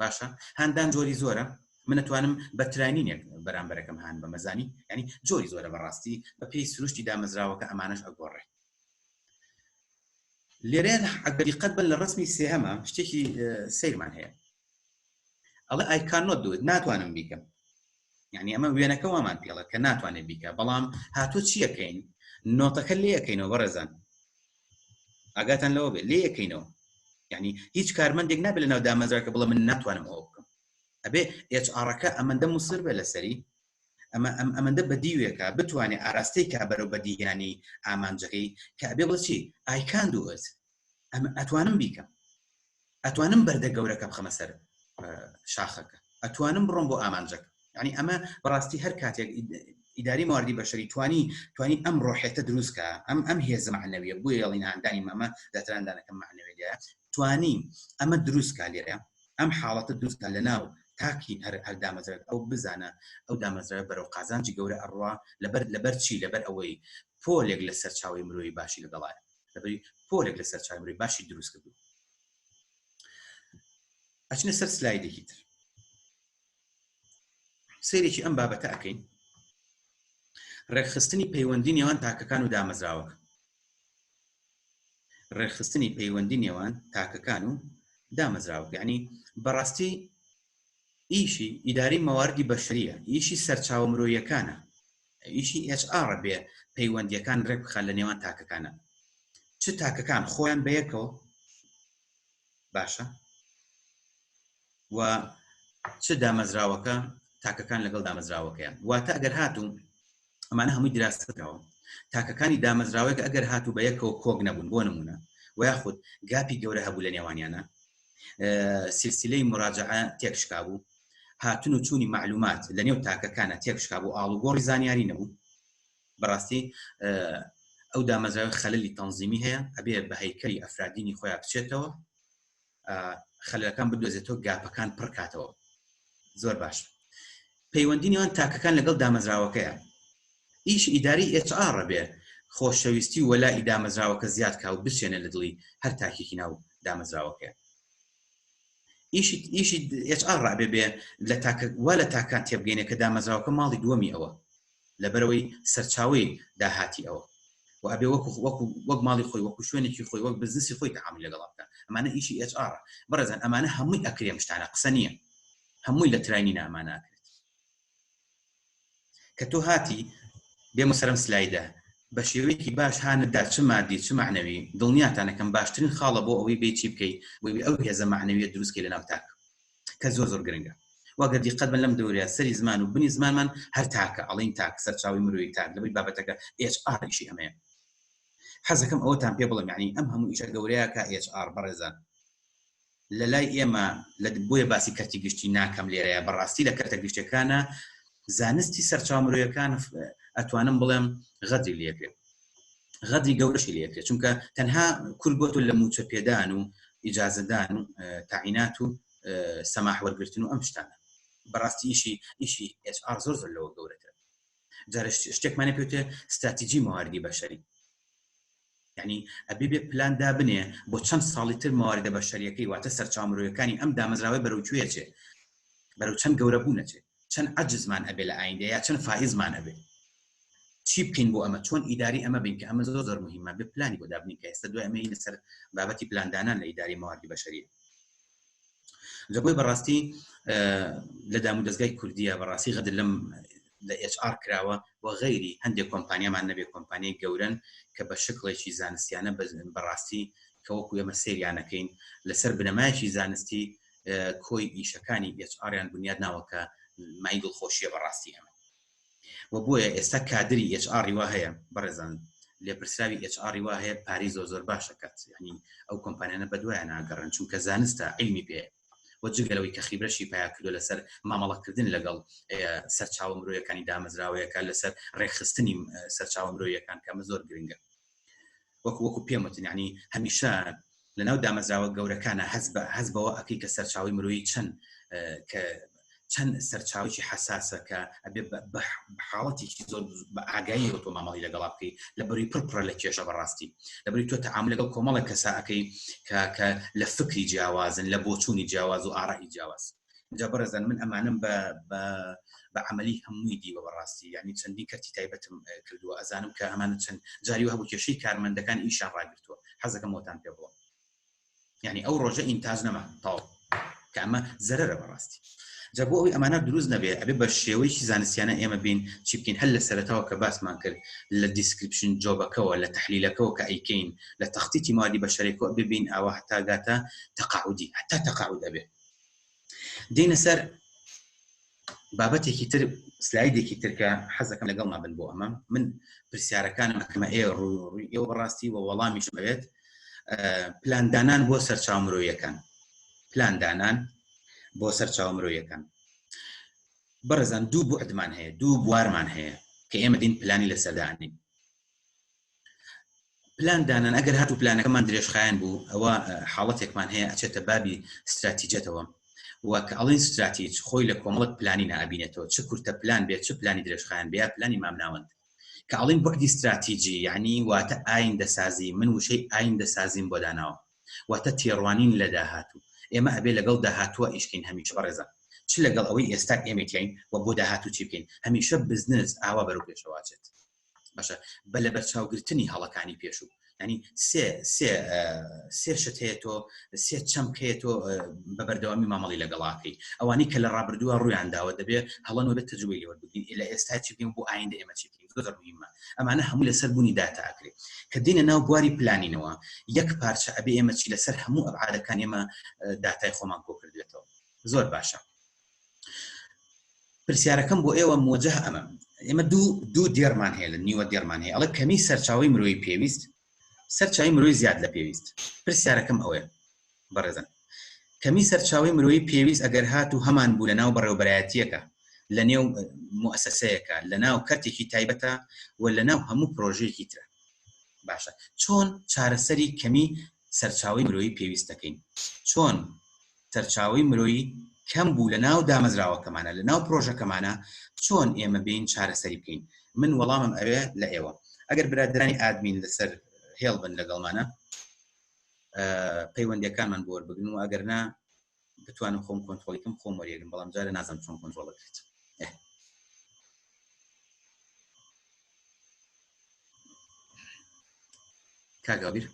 باشە هاندان جۆری زۆرە من ئەتوانم بە تراینینێک بەرامبەرەکەم هان بەمە زانی یانی جۆری زۆرە بەڕاستی بە پێی سروشتی دامەزراوەکە ئەمانەش ئەگۆڕێ لێرێن ئەگەر دیقەت بن لە ڕسمی سێهەمە شتێکی سیرمان هەیە ئەڵە ئایکانۆ دوت ناتوانم بیکەم یعنی ئەمە وێنەکە وامان پێڵە کە ناتوانێت بیکە بەڵام هاتۆ چیەکەین نۆتەکە لێەکەینەوە بەڕێزان ئاگاتان لەوە بێت لێ یەکەینەوە یعنی هیچ کارمەندێک نابێت لە ناو دامەزراکە بڵە من ناتوانم ئەوە بکەم ئەبێ ئێچ ئاڕەکە ئەمەندە مسر بێ لەسەری ئەمە ئەم ئەمەندە بەدیوێکە بتوانێت ئاراستەی کا بەرەو بەدیهێنانی ئامانجەکەی کە ئەبێ بۆچی ئایکان دووەت ئەم ئەتوانم بیکەم ئەتوانم بەردە گەورەکە بخەمە سەر شاخەکە ئەتوانم بڕۆم بۆ ئامانجەکە ینی ئەمە بەڕاستی هەر کاتێک ئیداری مواردی بەشەری توانی توانی ئەم ڕۆحێتە دروستکە ئەم ئەم هێز معنەویە بۆ یاڵیناندانی مەمە دەتراندانەکەم معنەوێ لێ توانی ئەمە دروستکە لێرە ئەم حاڵەتە دروستکە لە ناو تاکی هەر هەر دامەزرێت ئەو بزانە ئەو دامەزرە بەرەو قازانجی گەورە ئەڕوا لەبەر لەبەر چی لەبەر ئەوەی پۆلێک لە سەرچاوی مرۆی باشی لەگەڵایە دەبی پۆلێک لەسەر چاگری باشی دروست کردو ئەچنە سەر سلایدێکی تر سێرێکی ئەم بابەتە ئەەکەین ڕێکخستنی پەیوەندی نێوان تاکەکان و دامەزراوەکە ڕێکخستنی پەیوەندی نێوان تاکەکان و دامەزراوە یعنی بەڕاستی ئیشی ئیداری مەواردی بەشریە ئیشی سەرچاوە مرۆیەکانە ئیشی ئێچ ئاڕە بێ پەیوەندیەکان رێک بخات لە نێوان تاکەکانە چ تاکەکان خۆیان بەیەکەوە باشە و چ دامەزراوەکە تاکەکان لەگەڵ دامەزراوەکەیان واتە ئەگەر هاتوو ئەمانە هەمووی دراستەکەەوە تاکەکانی دامەزراوەیە کە ئەگەر هاتوو بە یەکەوە کۆک نەبوون بۆ نمونە و یاخود گاپی گەورە هەبوو لە نێوانیانە سلسلەی مراجعە تێکشکا بوو هاتن و چوونی معلومات لە نێو تاکەکانە تێکشکا بۆ ئاڵ و گۆڕی زانیاری نەبوو بەڕاستی ئەو دامەزراوی خەللی تەنزیمی هەیە ئەبێ بە هەیکەری ئەفرادینی خۆیان بچێتەوە خەلەکان بدۆزێتەوە گاپەکان پڕکاتەوە زۆر باش پەیوەندینیان تاکەکان لەگەڵ دامەزراوەکەیە ئیش ئیداری HR بێ خۆشەویستی وەلا ئیدامەزراوەکە زیاد کا و بچێنە لە دڵی هەر تاکێکی ناو دامەزراوەکە ئیشی ئیشی ئچ ئار ڕابێ بێ لە تاکە وا لە تاکان تێبگەینە کە دامەزراوەکە ماڵی دووەمی ئەوە لەبەرەوەی سەرچاوی داهاتی ئەوە و ئەبێ وەکو وەکو وەک ماڵی خۆی وەکو شوێنێکی خۆی وەک بزنسی خۆی تعامی لەگەڵ بکە ئەمانە ئیشی ئچ ئار بەڕێزان ئەمانە هەمووی ئەکرێم شتانە قسە نییە هەمووی لە تراینی نامانە کە تۆ هاتی بێمە سەرم سلایدە بە شێوەیەکی باش هانتدا چ مادی چ معنەوی دڵنیاتانەکەم باشترین خاڵە بۆ ئەوەی بێ چی بکەی بۆی ئەو هێزە معنەویە دروستکەی لە ناو تاک کە زۆر زۆر گرنگە واگەر دیقەت بن لەم دەورەیە سەری زمان و بنی زمانمان هەر تاکە ئەڵین تاک سەرچاوی مرۆی تاک لەبەی بابەتەکە HR ئیشی ئەمەیە حەزەکەم ئەوەتان پێ بڵم یعنی ئەم هەموو ئیشە گەورەیە کە HR بەڕێزان لەلای ئێمە لە بۆیە باسی کەرتی گشتی ناکەم لێرەیا بەڕاستی لە کەرتە گشتەکانە زانستی سەرچاو مرۆیەکان ئەتوانم بڵێم غەدری لێکرێت غەدری گەورەشی لێکرێت چونکە تەنها کورد بۆ تۆ لە موچە پێدان و ئیجازەدان و تاعینات و سەماح وەرگتن و ئەم شتانە بەڕاستی ئیشی ئیشی HR زۆر زۆر لەوە گەورەتر جارش شتێکمانە پێوتێ ستراتیجی مواردی بەشەری یەعنی ئەبێ بێ پلان دابنێ بۆ چەند ساڵی تر مەواردە بەشەریەکەی واتە سەرچاوە مرۆیەکانی ئەم دامەزراوەی بەرەو کوێ ئەچێ بەرەو چەند گەورە بوون ئەچێ چەند عەجزمان ئەبێ لە ئایندە یا چەند فائزمان ئەبێ چی بکەین بۆ ئەمە چۆن ئیداری ئەمە بین کە ئەمە زۆر زۆر مهمە بە پلانی بۆ دابنی کە ئێستا دوای ئەمەی لەسەر بابەتی پلاندانان لە ئیداری مەواردی بەشەریە لە بۆی بەڕاستی لە دام و دەستگای کوردیە بەڕاستی غەدر لەم لە HR کراوە و غەیری هەندێک کۆمپانیامان نەبێ کۆمپانیای گەورن کە بە شکڵێکی زانستیانە بەڕاستی کە وەکو ئێمە سریانەکەین لەسەر بنەمایکی زانستی کۆی ئیشەکانی HR یان بنیاد ناوەکە مای دڵخۆشیە بەڕاستی ئەمە وە بۆیە ئێستا کادری ئێچ ئاڕی وا هەیە بەڕێزان لێپرسراوی ئێچ ئاڕی وا هەیە پارەی زۆر زۆر باش ئەکات یەعنی ئەو کۆمپانیانە بەدوایان ناگەڕێن چونکە زانستە عیلمی پێیە وە جگە لەوەی کە خیبرەشی پەیا کردووە لەسەر مامەڵەکردن لەگەڵ سەرچاوە مرۆیەکانی دامەزراوەیەکە لەسەر ڕێکخستنی سەرچاوە مرۆیەکان کە ئەمە زۆر گرنگە. وەکو وەکو پێم وتن یعنی هەمیشە لە ناو دامەزراوە گەورەکانە هەز بە هەز بەوە ئەکەی کە سەرچاوی مرۆیی چەند کە چەند سەرچاوکی حساسە کە ئەبێ بە حاڵەتێکی زۆر بە ئاگایی تۆ مامەڵی لەگەڵا بکەیت لە بەری پڕپڕە لە کێشە بەڕاستی لە بەری تۆ تەعام لەگەڵ کۆمەڵە کەساکەی کە لە فکری جیاوازن لە بۆچوونی جیاواز و ئاڕای جیاواز جا بەڕێزان من ئەمانم بە بە بە عملی هەمووی دیوە بەڕاستی یعنی چەندی کەرتی تایبەتم کردووە ئەزانم کە ئەمانە چەند جاری هەبوو کێشەی کارمەندەکان ئیشان ڕاگرتووە حەزەکە مۆتان پێ بڵم یعنی ئەو ڕۆژە ئینتاج نەما تاو کە ئەمە زەرە بەڕاستی جا بۆ ئەوی ئەمانە دروست نەبێ ئەبێ بە شێوەیەکی زانستیانە ئێمە بین چی بکەین هەل لە سەرتاوە کە باسمان کرد لە دیسکرپشن جۆبەکەەوە لە تحلیلەکەەوە کە ئەیکەین لە تەختیتی مادی بە شەرێکۆ ببین ئەوە هەتاگاتە تەقاعودی هەتا تەقاعود ئەبێت دینە سەر بابەتێکی تر سلایدێکی ترکە حەزەکەم لەگەڵ مابن بۆ ئەمە من پرسیارەکانم ئەکەمە ئێ ڕووی ئێوە بەڕاستی وە وەڵامیش بێت پلاندانان بۆ سەرچاو مرۆیەکان پلاندانان بۆ سەرچاو مرۆیەکان بەڕێزان دوو بۆ عدمان هەیە دوو بوارمان هەیە کە ئێمە دین پلانی لە سەدانین پلان دانان ئەگەر هاتو پلانەکەمان درێژخایەن بوو ئەوە حاڵەتێکمان هەیە ئەچێتە بابی استراتیجەتەوە و کە ئەڵین استراتیج خۆی لە کۆمەڵک پلانی نابینێتەوە چ کورتە پلان بێت چ پلانی درێژخایەن بێ پلانی مامناوەند کە ئەڵین بەعدی استراتیجی یعنی واتە ئاین دەسازی من وشەی ئاین دەسازیم بۆ داناوە واتە تێڕوانین لە داهاتوو ئێمە ئەبێ لەگەڵ داهاتوە ئیشکین هەمیش بەڕێزە چ لەگەڵ ئەوەی ئێستا ئێمەین و بۆ داهاتوو چی بکەین هەمیشە بزنس ئاوا بەرەو پێشەواچێت باشە بە لە بەرچاوگرتنی هەڵەکانی پێشوو ینی سێ شت هەیە تۆ سێ چەمکەیە تۆ بە بەردەوامی مامەڵی لەگەڵاکەی ئەوانەی کە لە ڕابردووە ڕویان داوە دەبێت هەڵەن بێت تەجوی لەوە بگین لە ئێستا چی بگەین بۆ ئایندە ئێمە چی بگەین زۆر مهمە ئەمانە هەموو لەسەر بوونی داتاکرێت کە دینە ناو بواری پلانینەوە یەک پارچە ئەبێ ئێمە چی لەسەر هەموو ئەبعادەکان ئێمە داتای خۆمان کۆکردێتەوە زۆر باشە پرسیارەکەم بۆ ئێوە مۆجه ئەمە ئێمە دوو دوو دێرمان هەیە لە نیوە دێرمان هەیە ئەڵە کەمی سەرچاوی مرۆی پێویست سەرچوی مرۆی زیاد لە پێویست پرسیارەکەم ئەوێ بەڕێزن کەمی سەرچاوی مرۆی پێویست ئەگەر هات و هەمان بوو لە ناو بەڕێوبەرایەتیەکە لە نێو مؤسسەیەەکە لە ناو کەرتێکی تایبەتە و لە ناو هەموو پرۆژێکی ترە باشە چۆن چارەسەری کەمی سەرچاوی مرۆی پێویست دەکەین چۆن سەرچاوەی مرۆیی کەم بوو لەناو دامەزراوەکەمانا لەناو پرۆژەکەمانا چۆن ئێمە بێین چارەسەری بکەین من وەڵامم ئەوێ لە ئێوە ئەگەر برادرانی ئادمین لەسەر هێڵ بن لەگەڵمانە پەیوەندەکانمان بۆر بگن و ئەگەر نا بتوانم خۆم کۆنتۆلیکم خۆم وەریێگم بەڵام جارە نازم چۆن کۆنتۆڵ بکرێت کاگابیر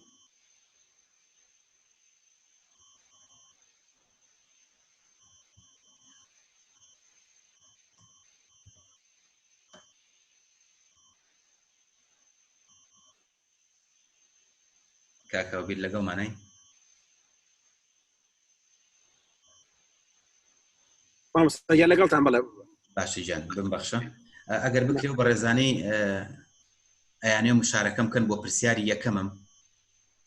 کاکەوە بیر لەگەڵ مانای یا لەگەڵتان بڵێ باشی جان بم بەخشە ئەگەر بکرێ و بەڕێزانەی ئەیانێ مشارەکەم کەن بۆ پرسیاری یەکەمم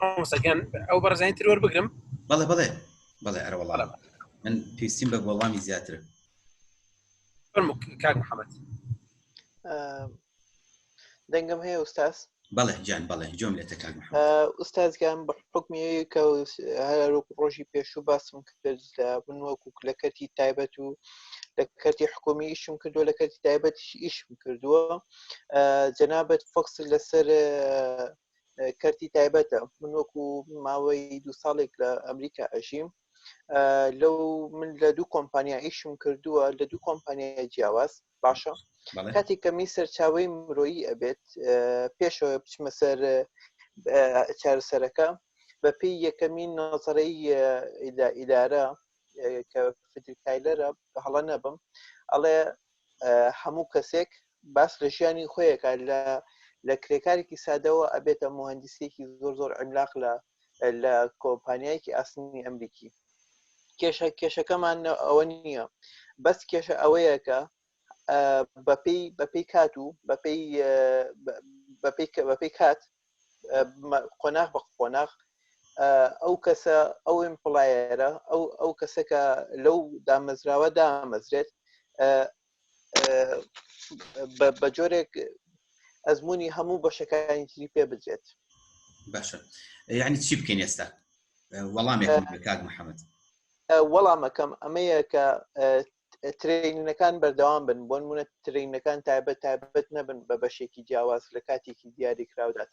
مامۆستاگیان ئەو بەڕزانی تر وەربگرم بەڵێ بڵێ بڵێ ئەرە وڵام من پێویستیم بە وەڵامی زیاتر کاک محەممەد دەنگم هەیە ئوستاس بەڵێ جان بەڵێ جۆم لێتە کاک ئوستازگان بە حکمیەکە هەرک ڕۆژی پێشوو باسم بەرزدابن وەکو لە کەرتی تایبەت و لە کەرتی حکومی ئیشم کردووە لە کەرتی تایبەت ئیشم کردووە جەنابەت فکس لەسەر کەرتی تایبەتە من وەکو ماوەی دو ساڵێک لە ئەمریکا ئەژیم لەو من لە دوو کۆمپانیا ئیشم کردووە لە دوو کۆمپانیای جیاواز باشە کاتێک کە می سەرچاوی مرۆیی ئەبێت پێشەوە بچمە سەر چارەسەرەکە بەپی یەکەمین نۆزڕی ئیدارە کە فدرکایلەرە هەڵە نەبم ئەڵێ هەموو کەسێک باس لە ژیانی خۆیەکە لە لە کرێکارێکی سادەوە ئەبێتە مهندسێکی زۆر زۆر ئەملاق لە لە کۆمپانیایەکی ئاسنی ئەمریکی کێشە کێشەکەمان ئەوە نییە بەس کێشە ئەوەیە کە بەپی بەپی کات و بەپی بەپی بەپی کات قۆناغ بە قۆناغ ئەو کەسە ئەو ئیمپڵایەرە ئەو ئەو کەسەکە لەو دامەزراوە دامەزرێت بە جۆرێک ئەزمموی هەموو بەشەکانی تری پێ بجێت باشە یعنی چی بکەین ئێستا وەڵام کاک محەممەد وەڵامەکەم ئەمەیە کە ترینەکان بەردەوام بن بۆن منە ترینەکان تایبەت تایبەت نەبن بە بەشێکی جیاواز لە کاتێکی دیاری کراودات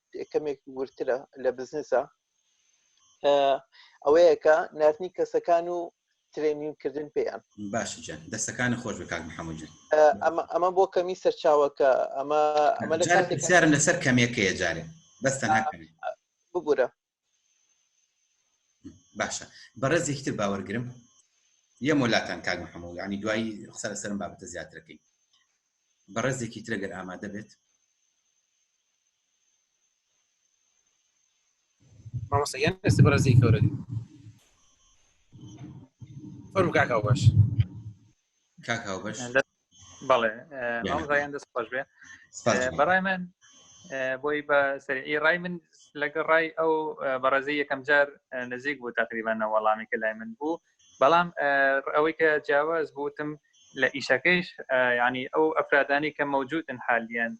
کەمێک ورترە لە بزنسە ئەوەیەکە نردنی کەسەکان و ترێنین کردن پێیان باش دەستەکان خۆش بکات محەممەد ئەمە بۆ کەمی سەرچاوەکە ئەمە ئەمە لەسەر کەمێکەیە جارێ بەستەنا ببورە باشە بەڕێزێکی تر باوەرگرم یە مۆلاتان کاک محەمە و ینی دوایی قسە لەسەرم بابەتە زیاترەکەی بەڕێزێکی ترەگەر ئامادە بێت مامۆسەیان ئێستا بەڕێزی کەورە فەرم کاکاو باش کاکاو باش بەڵێ ئەوزایان دەست خۆش بێ بەڕای من بۆی بە سەرعی ڕای من لەگە ڕای ئەو بەڕێزی یەکەم جار نزیک بوو تقریبانە وەڵامی کە لای من بوو بەڵام ئەوەی کە جیاواز بوتم لە ئیشەکەیش ینی ئەو ئەفرادانی کە مەوجودن حالیان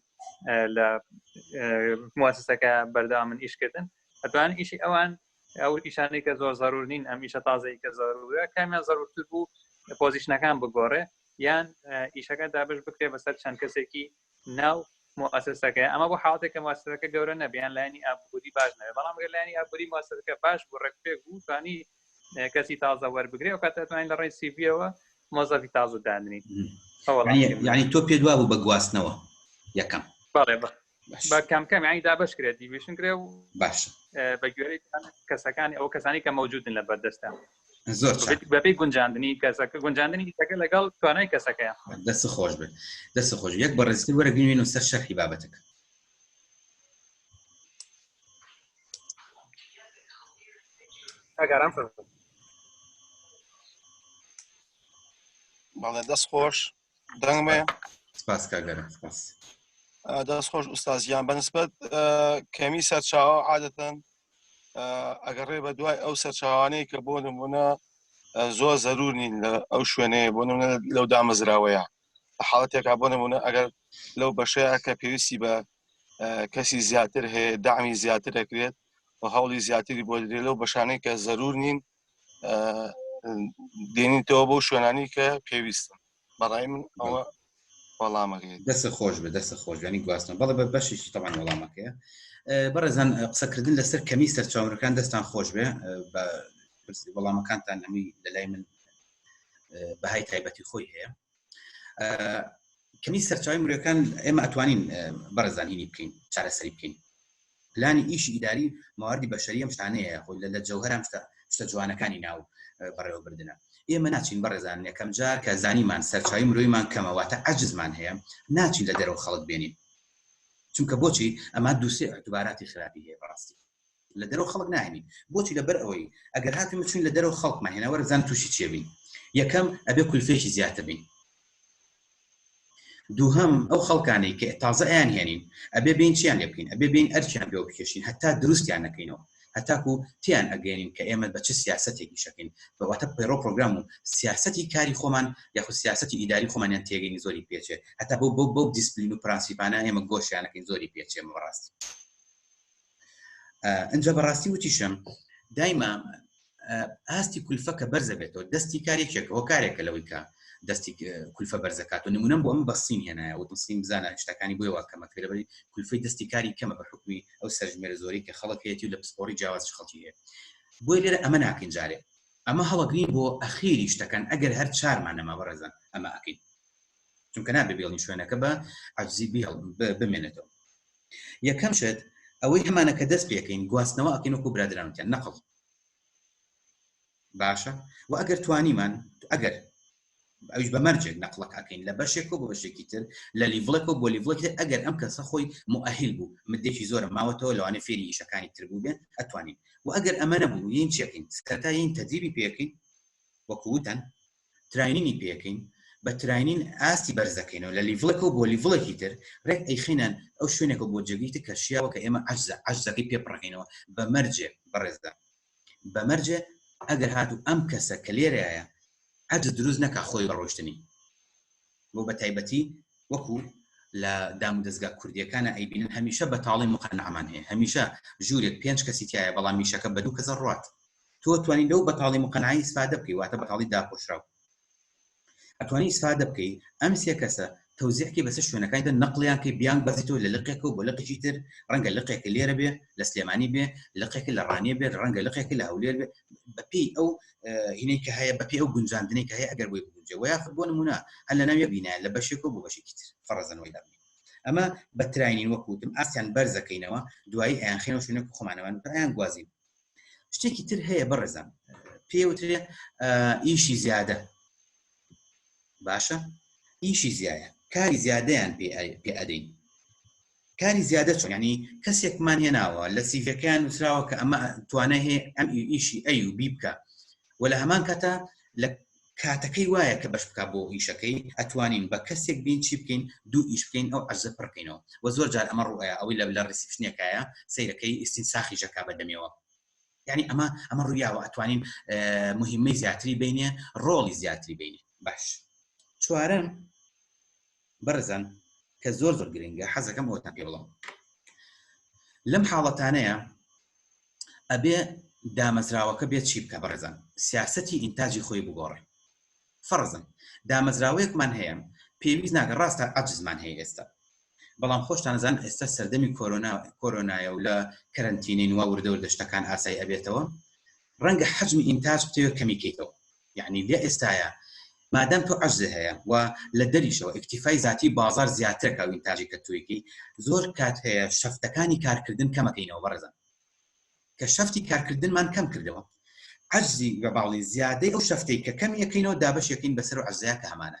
لە موسسەکە بەرداوا من ئیشکردن ئەتوان ئیشی ئەوان ئەو ئیشانەی کە زۆر زەرور نین ئەم ئیشە تازەی کە زەرورە کامیان زەرورتر بوو پۆزیشنەکان بگۆڕێ یان ئیشەکە دابش بکرێ بەسەر چەند کەسێکی ناو مؤسسەکە ئەمە بۆ حاڵەتێک کە مؤسسەکە گەورە نەبیان لایانی ئابووری باش نەبێت بەڵام گەر لایانی ئابووری مؤسسەکە باش بوو ڕێکپێک بوو توانی کەسی تازە وەربگرێ و کاتەتوانین لە ڕێی سیڤیەوە مۆزەفی تازە دانرین ینی تۆ پێ دوا بوو بە گواستنەوە یەکەم بەڵێ بە کەم کەم ینی دابش کرێت دیویشن کرێ و باش بە گوێری کەسەکانی ئەو کەسانی کە مەوجودن لە بەردەستە زۆر بەپی گونجاندنی کەسەکە گونجاندنی دیتەکە لەگەڵ توانای کەسەکەیان دەست خۆش بێت دەست خۆش یەک بەڕێزتر وەرە بینوین و سەر شەرحی بابەتەکە ئەگەرم بەڵێ دەست خۆش دەنگمێ سپاس کاگەرە سپاس دەست خۆش ئوستازیان بەنسبەت کەمی سەرچاوە عادەتەن ئەگەڕێ بە دوای ئەو سەرچاوانەی کە بۆ نمونە زۆر زەرور نین لە ئەو شوێنەیە بۆ نمونە لەو دامەزراوەیە حاڵەتێکا بۆ نمونە ئەگەر لەو بەشەیە کە پێویستی بە کەسی زیاتر هەیە دامی زیاتر دەکرێت و هەوڵی زیاتری بۆ درێ لەو بەشانەی کە زەرور نین دێنیتەوە بۆ شوێنانی کە پێویستن بەڕای من ئەوە وەڵامەکەی دەست خۆش بە دەست خۆشیانی گواستن بەڵێ بە بەشێکی تەوان وەڵامەکەیە بەڕێزان قسەکردن لەسەر کەمی سەرچاوەکان دەستان خۆش بێ بە وەڵامەکانتان ئەمی لەلای من بەهای تایبەتی خۆی هەیە کەمی سەرچاوی مرۆەکان ئێمە ئەتوانین بەڕزانینی بکەین چارەسەری بکەین پلانی ئیشی ئیداری مواردی بەشەری ئەم شتانەیە خۆی لە لە جەوهرام شتە شتە جوانەکانی ناو بەڕێوەبردنە ئێمە ناچین بەڕێزان یەکەم جار کە زانیمان سەرچاوی مرۆیمان کەمەواتە عجزمان هەیە ناچین لە دەرەوە خەڵک بێنین چونکە بۆچی ئەما دووسێ دوباراتی خراپی هەیە بەڕاستی لە دەرەوە خەڵک ناهێنین بۆچی لەبەر ئەوەی ئەگەر هاتوین بچین لە دەرەوە خەڵکمان هێنا وەرە بزان تووشی چێ بین یەکەم ئەبێ کولفێکی زیاتر بین دووهەم ئەو خەڵکانەی کە تازە ئەیان هێنین ئەبێ بین چیان لێ بکەین ئەبێ بین ئەرچیان پێ بکێشین هەتا دروستیان نەکەینەوە هەتاکو تیان ئەگەێنین کە ئێمە بە چ سیاستێکی شەکەین بەواتە پەیڕۆ پرۆگرام و سیاستی کاری خۆمان یاخو سیاستی ئیداری خۆمانیان تێگەنی زۆری پێچێ هەتا بۆ بۆ بەو دیسپلین و پرانسیپانە ئێمە گۆشیانەکەین زۆری پێچێ بەڕاستی ئەجا بەڕاستی وتیشم دایما ئاستی کولفە کە بەرزە بێتەوە دەستی کارێکێک هۆکارێکە لەوەی کە دەستی کولفە بەرزەکات و نمونم بۆ ئەم بەسین هێنایە و دەسین بزانە شتەکانی بۆی واکەمە کرەبەری کولفی دەستی کاری کەمە بە حکومی ئەو سەرژمێرە زۆری کە خەڵک هەیەی و لە پسپۆری جیاواز خەڵکی هەیە بۆی لێرە ئەمە ناکەین جارێ ئەمە هەڵەگرین بۆ ئەخیری شتەکان ئەگەر هەر چارمان نەما بەڕێزان ئەمە ئەکەین چونکە نابێ بێڵین شوێنەکە بە عزیبیڵ بمێنێتەوە یەکەم شت ئەوەی ئەمانە کە دەست پێکەین گواستنەوە ئەکەین وەکو برادرانکیان نەقڵ باشە و ئەگەر توانیمان ئەگەر ئەوش بە مەرجێک نەقلەک ئەکەین لە بەشێک و بە بەشێکی تر لە لیڤڵێک و بۆ لیڤڵێک ئەگەر ئەم کەسە خۆی مؤهل بوو مدێکی زۆرە ماوەتەوە لەوانێ فێری ئیشەکانی تر بوو بێ ئەتوانین و ئەگەر ئەمە نەبوو یین چێکین سەرتاین تەدریبی پێکەین وەکووتەن تراینینی پێکەین بە تراینین ئاستی بەرزەکەینەوە لە لیڤڵێکەوە بۆ لیڤڵێکی تر ڕێک ئەیخینان ئەو شوێنێکە بۆ جێگەیتە کە شیاوە کە ئێمە عەجزە عەجزەکەی پێ پڕەکەینەوە بە مەرجێ بەڕێزدا بە مەرجێ ئەگەر هاتوو ئەم کەسە کە لێرەیە عەجز دروست نەکا خۆی بەڕۆشتنی بۆ بە تایبەتی وەکو لە دام دەستگا کوردیەکانە ئەیبینن هەمیشە بەتاڵی مقەنەمان هەیە هەمیشە ژوورێک پێنج کەسی تایە بەڵام میشەکە بە دوو کەسە ڕات تۆ توانی لەو بەتاڵی مقەنعی ئیسفادە بکەی واتە بەتاڵی داپۆشراو ئەتوانی ئیسفادە بکەی ئەم سێ کەسە تەوزیحکی بەسەر شوێنەکانی دە نەقلیان کە بیان بەزیتەوە لە لقێکە و بۆ لقێکی تر ڕەنگە لقێکە لێرە بێ لە سلێمانی بێ لقێک لە ڕانیە بێت ڕەنگە لقێکی لە هەولێر بێ بەپی ئەو هینەی کە هەیە بەپی ئەو گونجاندنەی کە هەیە ئەگەر بۆی بگونجێ وە یاخود بۆ نمونە هەر لە ناویە بینایە لە بەشێک و بۆ بەشێکی تر فەڕەزەنەوەی لە ئەمە بە تراینین وەکوتم ئاستیان بەرزەکەینەوە دوایی ئەیان خێنەوە شوێنێک خۆمانەوان پرایان گوازین شتێکی تر هەیە بەڕێزان پێوترێ ئیشی زیادە باشە ئیشی زیایە کاری زیادەیان پێ ئەدەین کاری زیادە چۆنانی کەسێکمان هێناوە لە سیڤەکەیان نووسراوە کە ئەمە توانە هەیە ئەم ئیشی ئەی و بی بکە و لە هەمان کەتە لە کاتەکەی وایە کە بەش بکا بۆ ئیشەکەی ئەتوانین بە کەسێک بین چی بکەین دوو ئیش بکەین ئەو عەجزە پڕ کەینەوە وە زۆر جار ئەمە ڕوئەیا ئەوەی لە لە ڕیسیپشنێکایە سەیرە کەی ئیستین ساخی ژەکا بە دەمێوە یعنی ئەمە ئەمە ڕویاوە ئەتوانین مهمەی زیاتری بینێ ڕۆڵی زیاتری بینێ باش چوارەم بەڕێزان کە زۆر زۆر گرنگە حەزەکەم ئەوەتان پێ بڵم لەم حاڵەتانەیە ئەبێ دامەزراوەکە بێت چی بکە بەڕێزان سیاستی ئینتاجی خۆی بگۆڕێ فەرزن دامەزراوەیەکمان هەیە پێویست ناگە ڕاستە ئەجزمان هەیە ئێستا بەڵام خۆشتانزان ئێستا سەردەمی کۆرۆنا کۆرۆنایە و لە کەرنتینین وا وردەور دەشتەکان ئاسای ئەبێتەوە ڕەنگە حەجمی ئینتاج بتەوێت کەمیکەیتەوە یەعنی لە ئێستایا مادام تۆ عەجزێ هەیە و لە دەریشەوە ئیکتیفای زاتی بازاڕ زیاترە کە وینتاجی کە توێکی زۆر کات هەیە شەفتەکانی کارکردن کەمەکەینەوە بەڕێزان کە شەفتی کارکردنمان کەم کردەوە عەجزی بە باڵی زیادەی ئەو شەفتەی کە کەمیەکەینەوە دابەشێکین بەسەر و عەزەیە کە هەمانە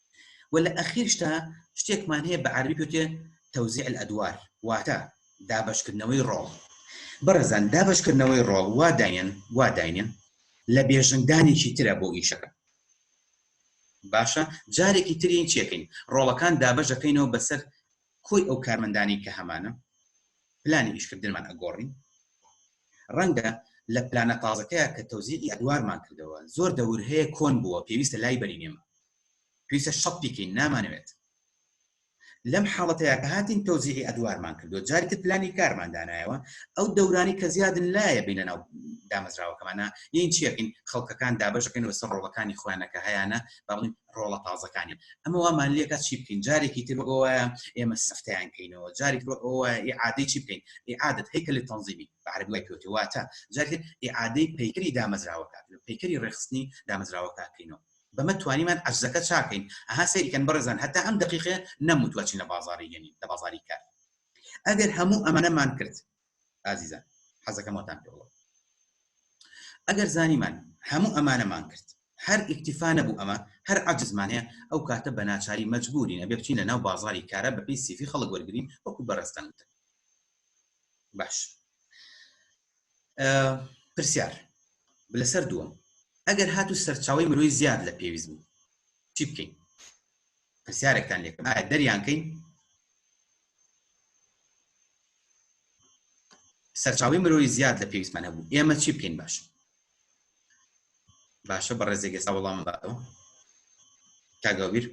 وە لە ئەخیرشدا شتێکمان هەیە بە عەرەبی پێوتێ توزیع الادوار واتە دابەشکردنەوەی ڕۆڵ بەڕێزان دابەشکردنەوەی ڕۆڵ وا داینێن وا داینێن لە بێژنگدانێکی ترە بۆ ئیشەکە باشە جارێکی ترین چێکین ڕۆڵەکان دابەش دەکەینەوە بەسەر کۆی ئەو کارمەندانەی کە هەمانە پلانی ئیشکردنمان ئەگۆڕین، ڕەنگە لە پلانە تازەکەیا کە تەوزیعی ئەدوارمان کردەوە زۆر دەور هەیە کۆن بووە پێویستە لای بەرین ئێمە پێویستە شەڕ پیکەین نامانەوێت لەم حاڵەتەیا کە هاتین تەوزیعی ئەدوارمان کردو جاری تر پلانی کارمان دانایەوە ئەو دەورانی کە زیادن لایە بینە ناو دامەزراوەکەمانە یین چیەکەین خەڵکەکان دابەشەکەین وەسەر ڕۆڵەکانی خۆیانەکە هەیانە بەڵین ڕۆڵە تازەکانی ئەمە وامان لێکە چی بکەین جارێکی تر ئەوە ئێمە سفتیان کەینەوە جارێک ئەوە عادەی چی بکەین عادت هەیکە لە تەنزیبی بەعربی وای پێوتی واتە جارێک عادەی پەیکری دامەزراوەکە پەیکری ڕێخستنی دامەزراوەکە بکەینەوە بەمە توانیمان ئەزەکە چاکەین ئەها سەریکەن بەڕێزان هەتا ئەم دقیقێ نەموتوە چینە بازاری گەنی لە بازاری کار ئەگەر هەموو ئەمانەمان کرد ئازیزان حەزەکەم وەتان پێ بڵێم ئەگەر زانیمان هەموو ئەمانەمان کرد هەر ئیکتیفا نەبوو ئەمە هەر عجزمان هەیە ئەو کاتە بە ناچاری مەجبورین ئەبێ بچین لە ناو بازاری کارە بەپی سیفی خەڵک وەرگین وەکو بەڕستان وتن باش پرسیار لەسەر دووەم ئەگەر هاتو سەرچاوی مرۆی زیاد لە پێویست بوو چی بکەین پرسیارێکتان لێکم ئایا دەریانکەین سەرچاوەی مرۆیی زیاد لە پێویستمان هەبوو ئێمە چی بکەین باش باشە بە ڕێزێک ئێستا وەڵام باتەوە کاگاویر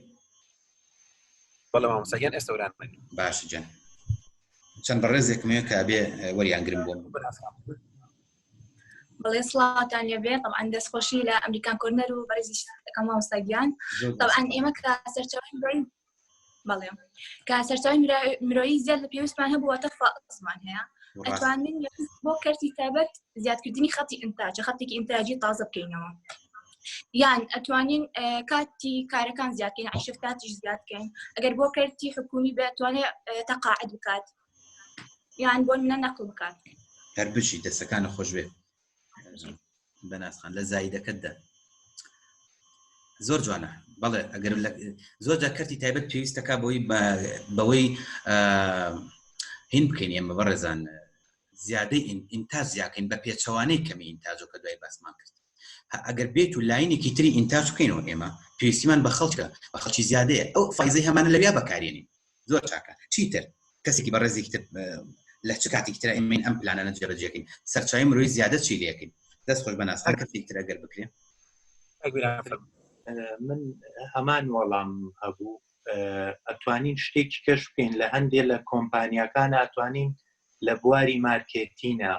بەڵامسەگەن ئێستەوران باش جەن چەند بە ڕێزێکمێ کە بێ وەریانگرم بۆم بەڵێ سڵاتان لێبێ طبعاان دەستخۆشی لە ئەمریکان کۆرنەر و بەرزی دەکەم مامۆستاگیان طبعاان ئێمە کە سەرچاوی بەڵێ کە سەرچاوی مرۆیی زیاد لە پێویستمان هەبووەتە فزمان هەیە ئەتوانین بۆ کەرتی تابەت زیادکردنی خەتی ئینتاجە خەتێکی ئینتاجی تازە بکەینەوە یان ئەتوانین کاتی کارەکان زیادکەین عشفتاتیش زیادکەین ئەگەر بۆ کەرتی حکومی بێتوانێت تەقاعد بکات یان بۆ منە نەقل بکات هەر بژی دەستەکانە خۆش بێت بەناسخان لە زایدەکەتدا زۆر جوانە بەڵێ ئەگەر زۆر جا کەرتی تایبەت پێویستەکە بۆی بەوەی هین بکەین ئێمە بەڕێزان زیادەی ئینتا زیاکەین بە پێچەوانەی کەمی ئینتاجۆکە دوای باسمان کرد ئەگەر بێت و لاینێکی تری ئینتاج بکەینەوە ئێمە پێویستیمان بە خەڵکە بە خەڵکی زیادەیە ئەو فیزی هەمانە لەویا بەکارێنین زۆر چاکە چیتر کەسێکی بەڕێزێکی تر لە چ کاتێکی تر ئەمین ئەم پلانانە جێبەجێکەین سەرچاوی مرۆی زیادە چی لەکەین دەست خۆش بەناس هەر کەسێک تر ئەگەر بکرێن من هەمان وەڵام هەبوو ئەتوانین شتێکی کەش بکەین لە هەندێک لە کۆمپانیەکان ئەتوانین لە بواری مارکێتینە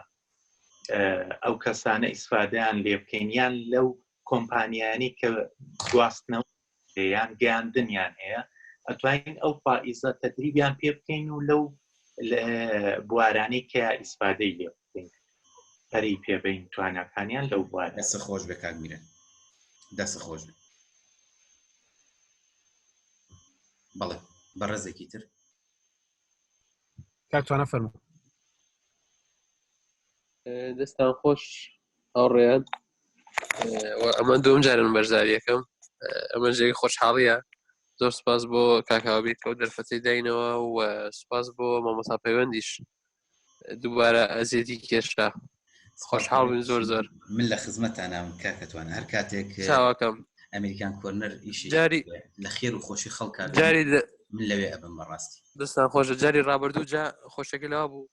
ئەو کەسانە ئیسفادیان لێ بکەین یان لەو کۆمپانیانی کە گواستنەوە لێیان گەیاندنیان هەیە ئەتوانین ئەو پائیزە تەدریبیان پێ بکەین و لەو بوارانەی کە ئیسفادەی لێ بکەین پەری پێبین توانەکانیان لەو بوار دەسە خۆش بە کاگمیرە دەسە خۆش بێت بەڵێ بەڕێزێکی تر کاکتوانە فەرمو دەستان خۆش هاوڕێیان ئەمە دوم جارن بەرزاریەکەم ئەمە جێگە خۆشحاڵیە زۆر سپاس بۆ کاکاوبیت ئەو دەرفەتی داینەوە و سپاس بۆ مامۆسا پەیوەندیش دووبارە ئەزیێتی کێشرا خۆشحاڵ بن زۆر زۆر من لە خزمەتانام کاکەتوان هەر کاتێک چاواکەم ئەمریکان کۆرنەر ئیشی جاری لە خێر و خۆشی خەڵکە جاری من لەوێ ئەبم بەڕاستی دەستان خۆشە جاری ڕابردوو جا خۆشەکە لەوا بوو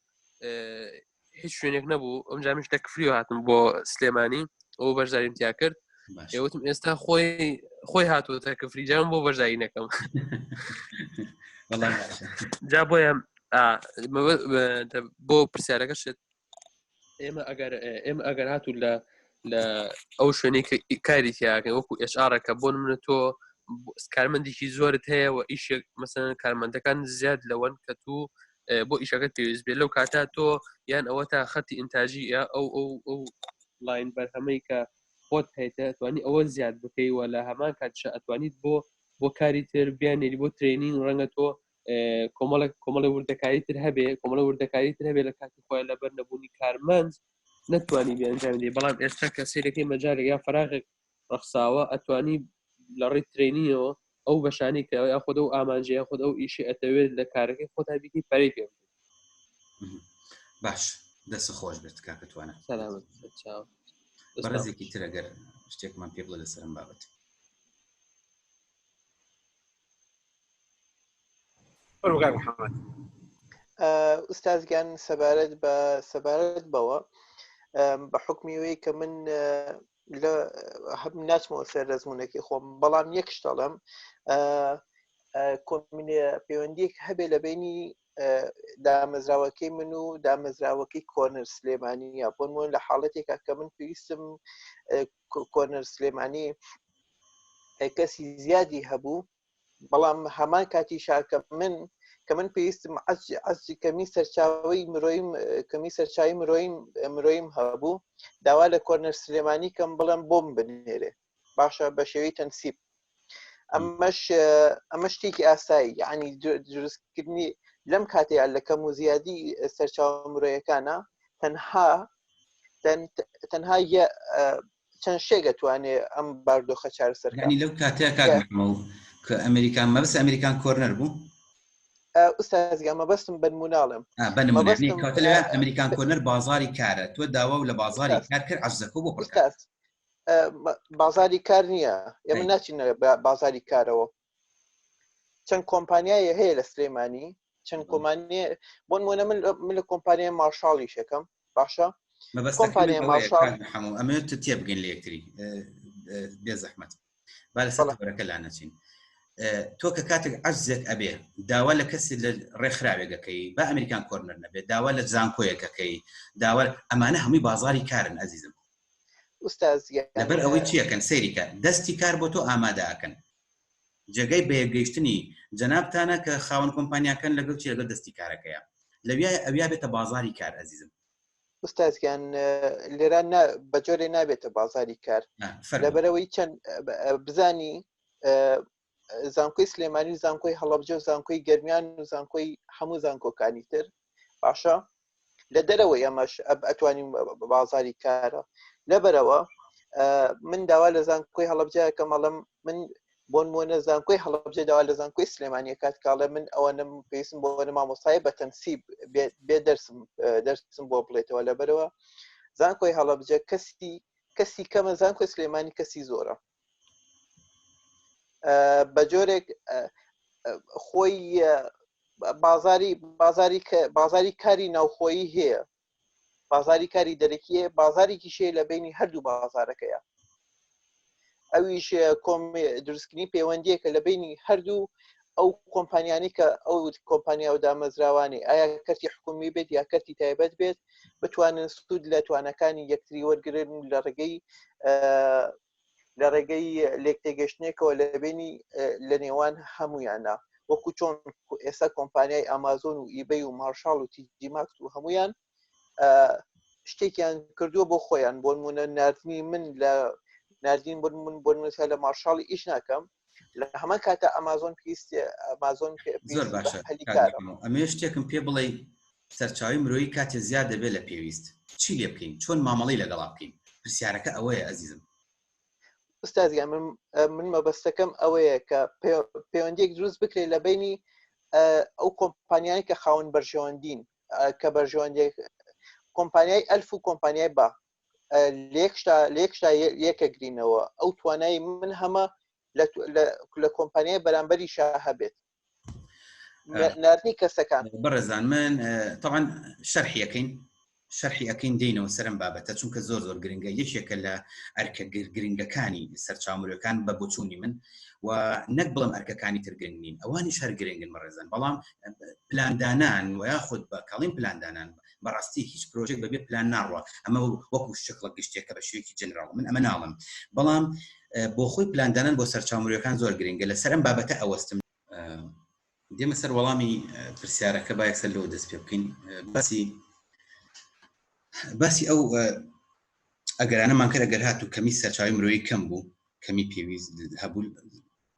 هیچ شوێنێک نەبوو ئەم جامیش لە کفری هاتم بۆ سلێمانی ئەو بەشداریم تیا کرد ئێوتم ئێستا خۆی خۆی هاتووە تا کفری جام بۆ بەشداری نەکەم جا بۆیە بۆ پرسیارەکە شێت ئێمە ئەگەر ئێمە ئەگەر هاتوو لە لە ئەو شوێنی کاری تیاکە وەکو ئێشارەکە بۆ منە تۆ کارمەندێکی زۆرت هەیە و ئیشێک مەسەن کارمەندەکان زیاد لەوەن کە تو بۆ ئیشەکەت پێویست بێت لەو کاتا تۆ یان ئەوە تا خەتی ئینتاجی یا ئەو ئەو ئەو لاین بەرهەمەی کە خۆت هەیتە ئەتوانی ئەوە زیاد بکەی وە لە هەمان کاتشە ئەتوانیت بۆ بۆ کاری تر بیانێری بۆ ترێنین ڕەنگە تۆ کۆمەڵک کۆمەڵی وردەکاری تر هەبێ کۆمەڵە وردەکاری تر هەبێ لە کاتی خۆیان لەبەر نەبوونی کارمەند نتوانانی بێنجاندی بەڵام ئێستا کە سیرەکەی مەجارێک یا فراغێک ڕەخساوە ئەتوانی لە ڕێی ترێنیەوە ئەو بەشانی کە یا خۆدە و ئامانجەیە خۆت ئەو ئیشی ئەتەوێت لە کارەکەی خۆتا بیکەی پەری پێ باش دەس خۆش بێت کاکەتوانە بەڕێزێکی ترەگەر شتێکمان پێ بڵە لەسەرم بابەت بەرگار محەممەد ئوستازگیان سەبارەت بە سەبارەت بەوە بە حکمیەوەی کە من لە هەب ناچمەوە سەر دەزمونونەکەی خۆم بەڵام یەک شتەڵم کۆمینێ پەیوەندیک هەبێ لە بینی دامەزراوەکەی من و دامەزراوەکەی کۆنەر سلێمانیە بۆنمون لە حاڵەتێکا کە من پێویستم کۆنەر سلێمانی کەسی زیادی هەبوو بەڵام هەمان کاتیش کە من کە من پێویستم عزی کەمی سەرچاوی مرۆیم کەمی سەرچوی مرۆیم مرۆیم هەبوو داوا لە کۆرنەر سلێمانی کەم بڵم بۆم بنێرێ باشە بە شێوی تەنسیب ئەمەش ئەمە شتێکی ئاسایی یعنی دروستکردنی لەم کاتەیە لە کەم و زیادی سەرچاو مرۆیەکانە تەنها تەنها چەند شێک ئەتوانێ ئەم باردۆخە چارەسەر کەن. یانی لەو کاتەیە کاک محمود کە ئەمریکا مەبەست ئەمریکان کۆرنەر بوو؟ ئا، ئوستاز گیان مەبەستم بە نمووناڵێم. ئا، بە نموونە یانی مەبەستم کەواتە لەوێ ئا، ئەمریکان ب... کۆرنەر بازاڕی کارە، تۆ داوا و لە بازاڕی ئوستاز، کار کرد عەجزەکە و بۆ پڕ کردن. ئوستاز، ئا، م، بازاڕی کار نییە، ئێمە ئەی. ناچینە با، بازاڕی کارەوە. چەند کۆمپانیایە هەیە لە سلێمانی چەند کۆمانی بۆن مۆنە من لە کۆمپانیای مارشاڵی شەکەم باشە کۆمپانیای مارشاڵ ئەمە تێبگەن لە یەکتری بێ زەحمەت با لەسەڵەکە لا نەچین تۆ کە کاتێک عزێک ئەبێ داوا لە کەسی لە ڕێکخراوێگەکەی بە ئەمریکان کۆرنەر نەبێت داوا لە زانکۆیەکەکەی داوا ئەمانە هەمووی بازاری کارن ئەزیزم ئوستاز گیان. لەبەر ئەوەی چی ئەکەن سەیری کە دەستی کار بۆ تۆ ئامادە ئەکەن جێگای بە یەک گەیشتنی جەنابتانە کە خاوەن کۆمپانیاکەن لەگەڵ چی لەگەڵ دەستی کارەکەیە لەویایە ئەویا بێتە بازاری کار ئەزیزم ئوستاز گیان لێرە نا بە جۆرێ نابێتە بازاری کار نا فەرموو. لەبەرەوەی چەند بزانی زانکۆی سلێمانی و زانکۆی هەڵەبجە و زانکۆی گەرمیان و زانکۆی هەموو زانکۆکانی تر باشە لە دەرەوە ئەمەش ئەتوانین بازاری کارە لەبەرەوە من داوا لە زانکۆی هەڵبجە کە مەڵم من بۆن مۆنە زانکۆی هەڵبجە داوا لە زانکۆی سلێمانە کات کاڵە من ئەوە نم پێسم بۆ بەە مامۆستای بە تەنسیب بێ دەرسم دەرسم بۆ بڵێتەوە لەبەرەوە زانکۆی هەڵبجە کەسی کەسی کەمە زانکۆی سلێمانی کەسی زۆرە بە جۆرێک خۆی بازاری بازاری بازاری کاری ناوخۆیی هەیە بازاری کاری دەرەکیە بازارێکی شێ لە بینی هەردوو بازارەکەیە ئەویش کۆم دروستکردنی پەیوەندیەکە لە بینی هەردوو ئەو کۆمپانیانی کە ئەو کۆمپانیا و دامەزراوانی ئایا کەرتی حکومی بێت یا کەرتی تایبەت بێت بتوانن سود لە توانەکانی یەکتری وەرگن لە ڕێگەی لە ڕێگەی لێک تێگەشتنێکەوە لە بینی لە نێوان هەمویانە وەکو چۆن ئێستا کۆمپانیای ئامازۆن و ئیبەی و مارشال و تیجیماکس و هەمویان شتێکیان کردووە بۆ خۆیان بۆ نمونە نردنی من لە نردین بن من بۆ نووسە لە مارشال ئیش ناکەم لە هەمە کاتە ئەمازۆن پێست ئەمازۆن ئەمێ شتێکم پێ بڵێ سەرچاوی مرۆیی کاتێ زیاد دەبێت لە پێویست چی لێ بکەین چۆن مامەڵی لەگەڵا بکەین پرسیارەکە ئەوەیە ئەزیزم ئوستازیا من من مەبەستەکەم ئەوەیە کە پەیوەندێک دروست بکرێت لە بینی ئەو کۆمپانیانی کە خاون بەرژەوەندین کە بەرژەوەندی کۆمپانیای ئەلف و کۆمپانیای با لێکشتا لێکشتا یەکەگرینەوە ئەو توانای من هەمە لە کۆمپانیای بەرامبەری شا هەبێت نردنی کەسەکان بەڕێزان من تاوان شەرحیەکەین شەرحی ئەەکەین دێنەوە سەرم بابەتە چونکە زۆر زۆر گرنگە یەکێکە لە ئەرکە گرنگەکانی سەرچاومرەکان بە بچووی من و نەک بڵم ئەرکەکانی ترگرنگین ئەوانیش هەر گرنگن بەڕێزن بەڵام پلاندانان و یاخود بە کاڵین پلاندانان بەڕاستی هیچ پرۆژێک بەبێ پلان ناڕوە ئەمە وەکو شکڵە گشتێکە بە شوێکی جنرال من ئەمە ناڵم بەڵام بۆ خۆی پلاندانان بۆ سەرچاومرەکان زۆر گرنگە لە سەرم بابەتە ئەوەستم دێمە سەر وەڵامی پرسیارەکە با یەکسەر لەوە دەست پێ بکەین باسی باسی ئەو ئەگەرانەمان کرد ئەگەر هاتوو کەمی سەرچاوی مرۆیی کەم بوو کەمی پێویست هەبوو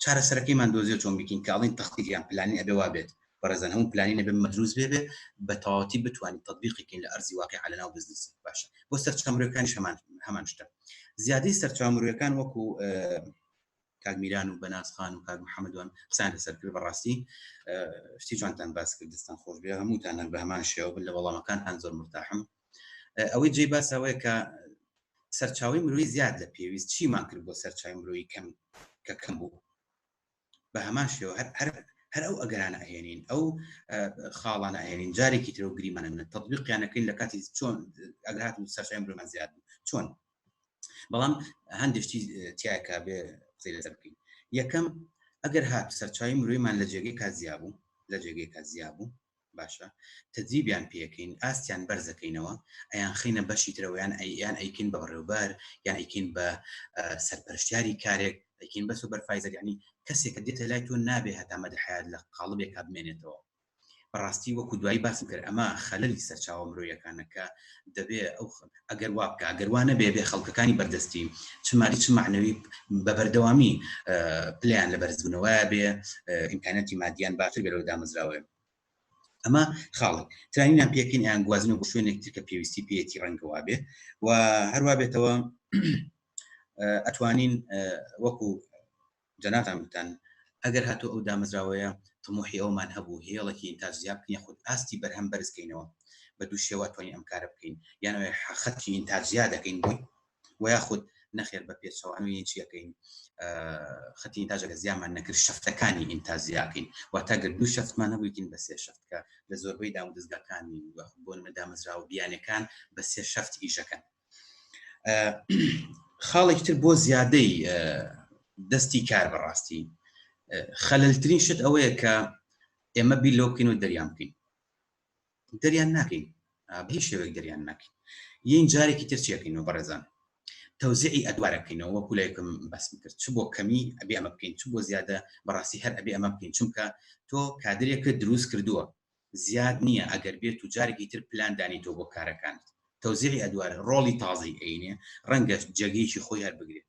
چارەسەرەکەیمان دۆزیەوە چۆن بیکەین کە ئەڵێن تەخطیط یان پلانین ئەبێ وا بێت بەڕێزان هەموو پلانین ئەبێ مەدروس بێ بێ بە تەواوەتی بتوانین تەطبیقی کەین لە ئەرزی واقیع لەناو بزنس باشە بۆ سەرچاوە مرۆیەکانیش هەمان هەمان شتە زیادەی سەرچاوە مرۆیەکان وەکو کاک میران و بەناز خان و کاک محەممەدوان قسان لەسەر کرد بەڕاستی شتی جوانتان باس کرد دەستان خۆش بێ هەمووتان هەر بە هەمان شێوە بن لە وەڵامەکانتان زۆر مرتاحم ئەوەی جێی باسە ئەوەیە کە سەرچاوەی مرۆیی زیاد لە پێویست چیمان کرد بۆ سەرچاوی مرۆیی کەم کە کەم بوو بە هەمان شێوە هەر هەر ئەو ئەگەرانە ئەهێنین ئەو خاڵانە ئەهێنین جارێکی ترەوە گریمانە منە تطبیقیانەکەین لە کاتی چۆن ئەگرات و سەرچای مرۆمان زیاد بوو چۆن بەڵام هەندێشتی تیاکە بێ قسەی لەسەر بکەین یەکەم ئەگەر هات سەرچاوی مرۆیمان لە جێگەی کازیا بوو لە جێگەی کازیا بوو باشە تەدریبیان پێکەین ئاستیان بەرزەکەینەوە ئەیانخەینە بەشی ترەوە یان یان ئەیکەین بە بەڕێوبەر یان ئەیکەین بە سەرپەرشتیاری کارێک ئەیکەین بە سوبەرفایزەر یعنی کەسێکە دێتە لای تۆ نابێ هەتا مەدە حیات لە قاڵبێکا بمێنێتەوە بەڕاستی وەکو دوایی باسم کرد ئەمە خەلەلی سەرچاوە مرۆیەکانەکە دەبێ ئەو ئەگەر وا بکە ئەگەر وا نەبێ بێ خەڵکەکانی بەردەستی چ مالی چ معنەوی بە بەردەوامی پلیان لە بەرزبوونەوەە بێ ئیمکانەتی مادیان باشتر بێ لەو دامەزراوەیە ئەمە خاڵێک ترینیان پێکین یان گوازنە بۆ شوێنێک تر کە پێویستی پێێتی ڕەنگەوا بێ و هەروە بێتەوە ئەتوانین وەکو جەناتان گوتان ئەگەر هاتو ئەو دامەزراوەیە تموحی ئەومان هەبوو هێڵێکی تا زیاب بکەین خود ئاستی بەرهەم بەرزکەینەوە بە دوو شێوە توانین ئەم کارە بکەین یانەوەی حەخەتکی تا زیاد دەکەین بۆی وە یاخود نەخێر بە پێچەوە ئەمەی چی ئەکەین خەتی ئینتاجە کە زیامان نەکرد شەفتەکانی ئینتاج زیاکەین واتە گەر دوو شەفتمان هەبووین بە سێ شەفت کە لە زۆربەی دامودەزگاکانی بۆ نمە دامەزرا و بیانەکان بە سێ شەفت ئیشەکەن خاڵێکی تر بۆ زیادەی دەستی کار بەڕاستی خەللترین شت ئەوەیە کە ئێمە بیر لۆ بکەین و دەریان بکەین دەریان ناکەین بە هیچ شێوەیەک دەریان ناکەین یین جارێکی تر چێکەینەوە بەڕێزان تەوزیعی ئەدوارەکەینەوە وەکو لایکم باسم کرد چ بۆ کەمی ئەبێ ئەمە بکەین چ بۆ زیادە بەڕاستی هەر ئەبێ ئەمە بکەین چونکە تۆ کادرێکە دروست کردووە زیاد نییە ئەگەر بێت و جارێکی تر پلان دانی تۆ بۆ کارەکانت تەوزیعی ئەدوار ڕۆڵی تازی ئەینێ ڕەنگە جێگەیەکی خۆی هەر بگرێت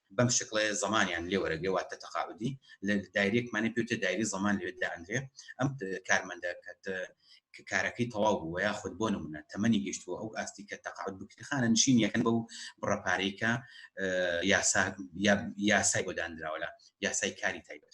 بەم شکڵەیە زەمانیان لێ وەرەگرێ واتە تەقاعودی لە دایرێکمانە پێوتێ دایری زەمان لەوێ دانرێ ئەم کارمەندە کە کە کارەکەی تەواو بوو یا خود بۆ نمونە تەمەنی گەشتووە ئەو ئاستی کە تەقاعد بکرخانە نشین یەکەن بەو بڕەپارەی کە یاسا یاسای بۆ دانراوە لە یاسای کاری تایبەت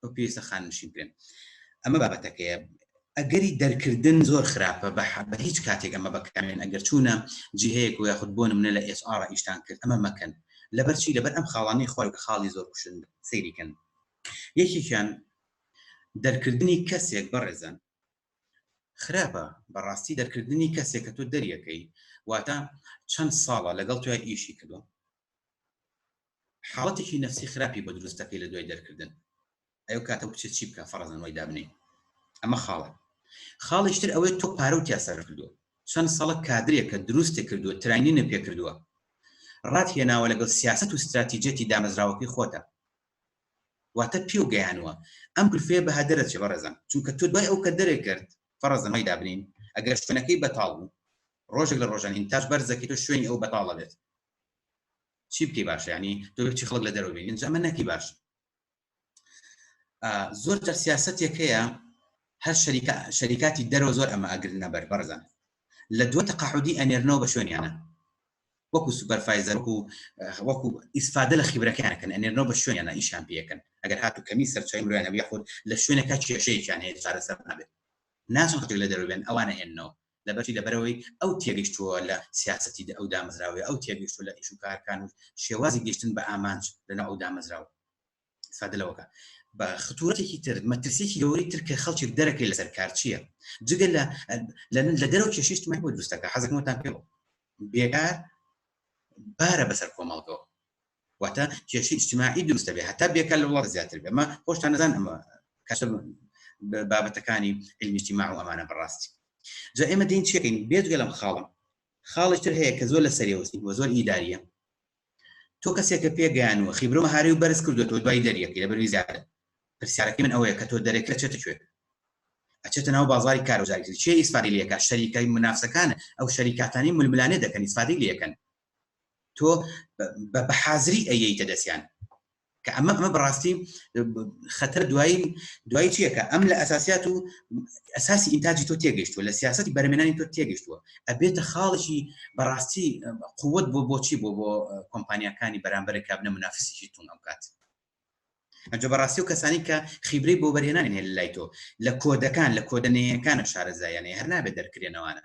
ئەو پێویستە خاننشین بکرێن ئەمە بابەتەکەیە ئەگەری دەرکردن زۆر خراپە بە حەبە هیچ کاتێک ئەمە بەکامێن ئەگەر چوونە جیهەیەک و یاخود بۆ منە لە ئێس ئارا ئیشتان کرد ئەمە مەکەن لەبەرچی لەبەر ئەم خاڵانی خۆی خاڵی زۆر کوشن سەیریکەن یەکێکیان دەرکردنی کەسێک بەڕێزن خراپە بەڕاستی دەرکردنی کەسێک کە تۆ دەریەکەی واتە چەند ساڵە لەگەڵ توای ئیشی کردو حاڵەتێکی نەفسی خراپی بۆ دروست دەکەی لە دوای دەرکردن ئەی ئەو کاتە ئەو کچە چی بکا فەڕەزەن وای دابنێی ئەمە خاڵێک خاڵیش تر ئەوەی تۆ پارە و تیا سەرف کردووە چەند سەڵە کادرێکە دروستێ کردووە تراینینە پێ کردووە ڕات هێناوە لەگەڵ سیاست و ستراتیجێتی دامەزراوەکەی خۆتە واتە پێ و گەیانوە ئەم گرفەیە بە هەدەرە چێ بەڕێزان چونکە تۆ دوای ئەو کە دەرێ کرد فەڕەزەمای دابنین ئەگەر شوێنەکەی بەتاڵ بوو ڕۆژێک لە ڕۆژان ئینتاش بەرزەکەی تۆ شوێنی ئەو بەتاڵە بێت چی بکەی باشە ینی تۆ بچی خەڵک لە دەرەوە بینین ئەمە نەکی باش زۆر جار سیاستێک هەیە هەر شەریکە شەریکاتی دەرەوە زۆر ئەمە ئەگرنە بەر بەرزان لە دووە تەقاعودی ئەنێرنەوە بە شوێنیانە وەکو سوپەرفایزەر وەکو وەکو ئیسفادە لە خیبرەکانەکەن ئەنێرنەوە بە شوێنیانە ئیشان پێەکەن ئەگەر هاتو کەمی سەرچای مرۆیانە یاخود لە شوێنەکە کێشەیەکیان هەیە چارەسەر نابێت ناچن خەڵک لە دەرەوە بێن ئەوانە هێنەوە لەبەرچی لەبەرئەوەی ئەو تێگەشتووە لە سیاسەتی ئەو دامەزراوەی ئەو تێگەشتووە لە ئیش و کارەکان و شێوازی گەشتن بە ئامانج لەناو ئەو دامەزراوە ئیسفادە لەوەکە بە خطورەتێکی تر مەترسێکی گەوری تر کە خەڵکی دەرەکەی لەسەر کار چییە جگە لە لە دەرەوە کێشیشتمان بۆ دروستەکە حەزەکەمەتان پێ بێکار بارە بەسەر کۆمەڵگەوە واتە کێشی ئیجتماعی دروست دەبێت هەتا بێکار لە وڵات زیاتر بێ مە خۆشتان نەزان ئەمە کەسە بابەتەکانی علمیشتی ما و ئەمانە بەڕاستی جا ئێمە دین چێکین بێجگە لەم خاڵم خاڵێکتر هەیە کە زۆر لە سەرێوەستی وە زۆر ئیداریە تۆ کەسێکە پێگەیان و خیبرۆ هاری و بەرز کردو تۆ دوای دەریەکەی لە بەروی زیاتر پرسیارەکە من ئەوەیە کە تۆ دەرێکە چێتە کوێت ئەچێتە ناو بازاری کارۆزاری چی ئیسفادی لەکە شەریکای منافسەکان ئەو شەریکاتانی ململانێ دەکەن ئیسفادی لەکەن تۆ بە حازری ئەیەیتە دەستیان کە ئەمە ئەمە بەڕاستی خەتە دوایی دوای چیەکە ئەم لە ئەساسیات و ئەساسی ئینتاجی تۆ تێگەشتووە لە سیاستی بەرمێنانی تۆ تێگەشتووە ئەبێتە خاڵێکی بەڕاستی قوت بۆ بۆچی بۆ بۆ کۆمپانیەکانی بەرامبەر کابنە منافسیی تون ئەم کات ئەجە بەڕاستی و کەسانی کە خیبرەی بۆ بەرێنانی هێن لای تۆ لە کۆدەکان لە کۆدەنەیەکانە شارەزایانەیە هەر نابێت دەرکرێنەوانە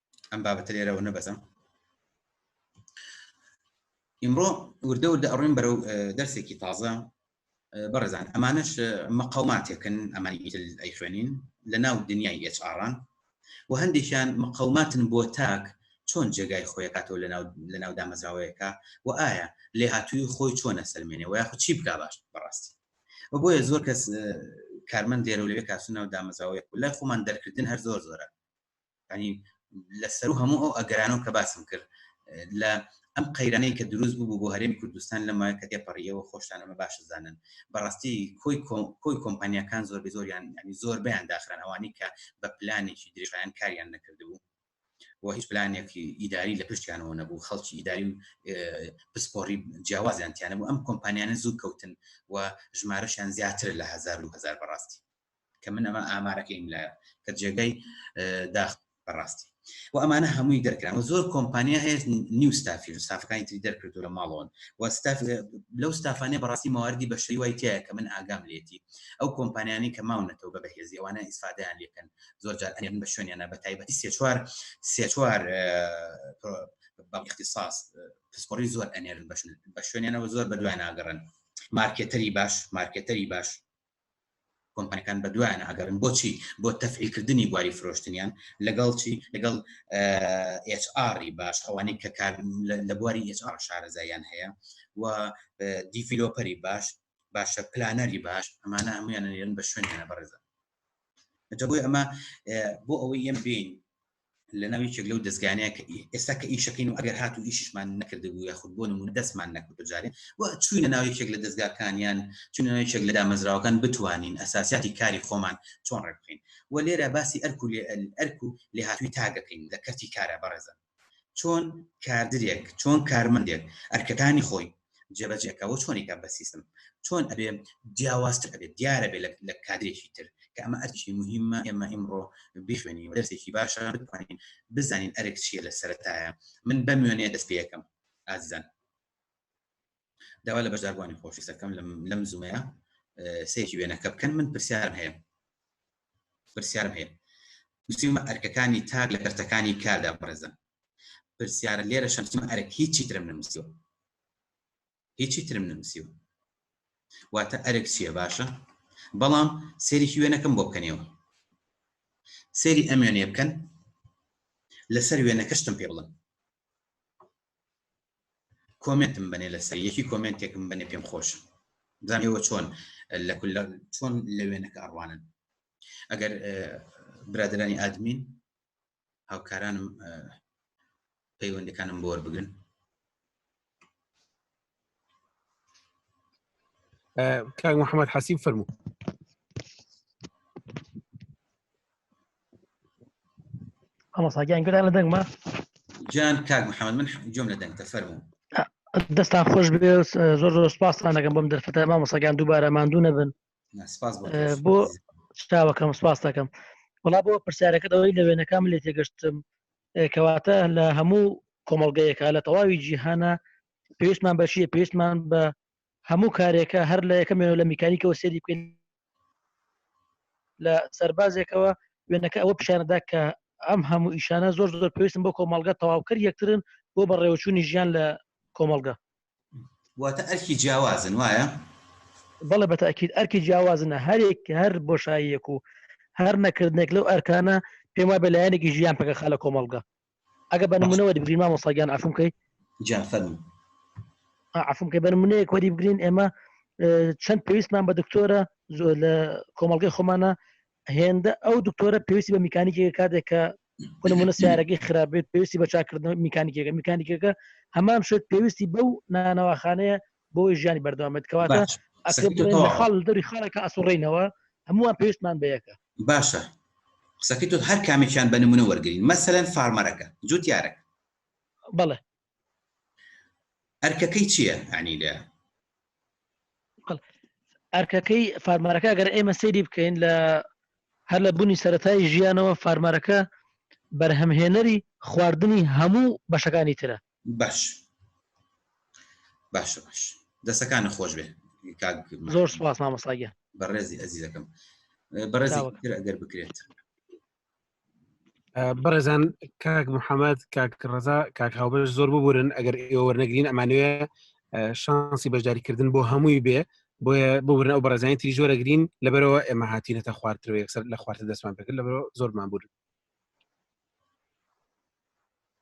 ئەم بابەتە لێرەوە نەبەزم ئیمڕۆ وردە وردە ئەڕۆین بەرەو دەرسێکی تازە بەڕێزان ئەمانش مەقاوماتێکن ئەمانی ئیتل ئەی خوێنین لە ناو دنیای ئێچڕان و هەندێکیان مەقاوماتن بۆ تاک چۆن جێگای خۆیکاتەوە لە ناو دامەزراوەیەەکە و ئایا لێ هاتووی خۆی چۆنە سەلمێنێ و یاخود چی بکا باش بەڕاستی و بۆیە زۆر کەس کارمەند دێرە لەوێ کاسونا و دامەزاوەیە لای خۆمان دەرکردن هەر زۆر زۆرە ینی لە سەرو هەموو ئەو ئەگەرانەوە کە باسم کرد لە ئەم قەیرانەی کە دروست بوو بۆ هەرێمی کوردستان لەمە کە تێپەڕیەوە خۆشتان ئەمە باش زانن بەڕاستی کۆی کۆی کۆمپانیەکان زۆر زۆریان ینی زۆر بیان داخران ئەوانی کە بە پلانێکی درێژیان کاریان نەکردبوو و هیچ پلانێکی ئیداری لە پشتیانەوە نەبوو خەڵکی ئیداری و پسپۆری جیاوازیان تیانە بوو ئەم کۆمپانیانە زوو کەوتن و ژمارەشیان زیاتر لە هزار و هزار بەڕاستی کە من ئەمە ئامارەکەیم لایە کە جێگای داخ بەڕاستی و ئەمانە هەمووی دەرکران و زۆر کۆمپانیا هەیە نیو ستافی ستافەکانی تری دەرکردو لە ماڵەوەن و ستاف لەو ستافانێ بەڕاستی ماواردی بەشەی وای تایە کە من ئاگام لێتی ئەو کۆمپانیانی کە ماونەتەوە بە بەهێزی ئەوانە ئیسفادیان لەکەن زۆر جار ئەێن بە شوێنیانە بە تایبەتی سێ چوار سێ چوار بە اختصاص پسپۆری زۆر ئەنێرن بە شوێنیانەوە زۆر بە دوای ناگەڕن مارکێتەری باش مارکێتەری باش کۆمپانیەکان بەدوایان ئەگەڕن بۆچی بۆ تەفعیلکردنی بواری فرۆشتنیان لەگەڵ چی لەگەڵ HR باش ئەوانەی کە کار لە بواری HR شارەزایان هەیە و دیڤلۆپەری باش باشە پلانەری باش ئەمانە هەمویان نێرن بە شوێنیانە بەڕێزە جەبووی ئەمە بۆ ئەوەی ئەم بین لەناو یەکێک لەو دەزگانەیە کە ئێستا کە ئیشەکەین و ئەگەر هاتو ئیشیشمان نەکردبوو یاخود بۆ نمونە دەستمان نەکەوتە جارێ و چووینە ناو یەکێک لە دەزگاکان یان چووینە ناو یەکێک لە دامەزراوەکان بتوانین ئەساسیاتی کاری خۆمان چۆن ڕێک بخەین و لێرە باسی ئەرک و ئەرک و لێهاتووی تاک دەکەین لە کەرتی کارا بەڕێزان چۆن کادرێک چۆن کارمەندێک ئەرکەکانی خۆی جێبەجێکەوە چۆنی کە بە سیستم چۆن ئەبێ جیاوازتر ئەبێت دیارە بێ لە کادرێکی تر کە ئەمە ئەرکی مهمە ئێمە ئیمڕۆ بخوێنین دەرسێکی باشە بتوانین بزانین ئەرک چیە لە سەرتایە من بەمێنێ دەست پێەکەم ئازیزان داوا لە بەشداربووانی خۆشی سەکەم لەم زومەیە سێکی وێنەکە بکەن من پرسیارم هەیە پرسیارم هەیە نووسیمە ئەرکەکانی تاک لە کەرتەکانی کاردا بڕێزن پرسیارە لێرە شەمسیمە ئەرک هیچی ترم نمسیوە هیچی ترم نمسیوە واتە ئەرک چییە باشە بەڵام سێریکی وێنەکەم بۆ بکەنەوە سێری ئەم وێنێ بکەن لەسەر وێنەکەشتم پێ بڵم کۆمنتم بنێ لەسەر یەکی کۆمنتێکم بنێ پێم خۆش زانەوە چۆن لە چۆن لە وێنەکە ئەڕوانن ئەگەر برادرانی ئادمین هاوکارانم پەیوەندەکانم بۆر بگرن کاک محمد حەسیب فەرموو هەڵساگیان گران لە دەنگمە جان کاک محمد من جۆم لە دەنگتە فەرموو دەستان خۆش بێ زۆر زۆر سپاستان دەگەم بۆم دەرفەتە مامۆسەگان دووبارە ماندوو نەبن بۆ شتاوەکەم سپاس دەکەم وڵا بۆ پرسیارەکە دەوەی لە وێنەکەم لێ تێگەشتم کەواتە لە هەموو کۆمەڵگەیەکە لە تەواوی جیهانە پێویستمان بەشیە پێویستمان بە هەموو کارێکە هەر لە یەکەمێنەوە لە میکانیکەوە سێری بکەین لە سەربازێکەوە وێنەکە ئەوە پیشانەدا کە ئەم هەموو ئیشانە زۆر زۆر پێویستم بۆ کۆمەڵگە تەواوکەر یەکترن بۆ بەڕێوەچوونی ژیان لە کۆمەڵگە واتە ئەرکی جیاوازن وایە؟ بەڵێ بەتاکیید ئەرکی جیاوازن هەرێک هەر بۆشاییەک و هەر نەکردنێک لەو ئەرکانە پێم وای بە لایەنێکی ژیان پێکە خالە کۆمەڵگە ئەگە بە نمونەوە بگرین مامۆ ساگیان ئەفم کەی جافەر ئەفم کە بە نمونەیەک وەری بگرین ئێمە چەند پێویستمان بە دکتۆرە زۆر لە کۆمەڵگەی خۆمانە هێندە ئەو دکتۆرە پێویستی بە میکانیکی کاتێک کە بۆ نمونە سیارەکەی خراپ بێت پێویستی بە چاکردنەوە میکانیکەکە میکانیکەکە هەمان شت پێویستی بەو نانەواخانەیە بۆی ژیانی بەردەوامێت کەواتە خاڵ دەری خاڵەکە ئەسوڕینەوە هەمووان پێویستمان بەیەکە باشە قسەکەی تۆ هەر کامێکیان بە نمونە وەرگین مەسەرەن فارمەرەکە جوتیارەکە بەڵێ ئەرکەکەی چییە ئەنی لە ئەرکەکەی فارمارەکە گەر ئێمە سەیری بکەین لە هەر لە بوونی سەتای ژیانەوە فارمارەکە بەرهەمهێنەری خواردنی هەموو بەشەکانی ترە باش باش باش دەسەکانە خۆش بێ زۆر سپاس مامەساگە بەڕێزی ئەزیزەکەم بەڕێزی ئەگەر بکرێت بەڕێزان کاک محەممەد کاک ڕزا کاک هاوبەر زۆر ببورن ئەگەر ئێوەرنەگرین ئەمانوێ شانسی بەشداریکردن بۆ هەمووی بێ بۆیە ببرن ئەو بەڕێزانی تری زۆرەگرین لەبەرەوە ئێمە هاتیینەتە خوارتر یەکسەر لە خوارتە دەستمان پێکرد لەبەر زۆرمان بوون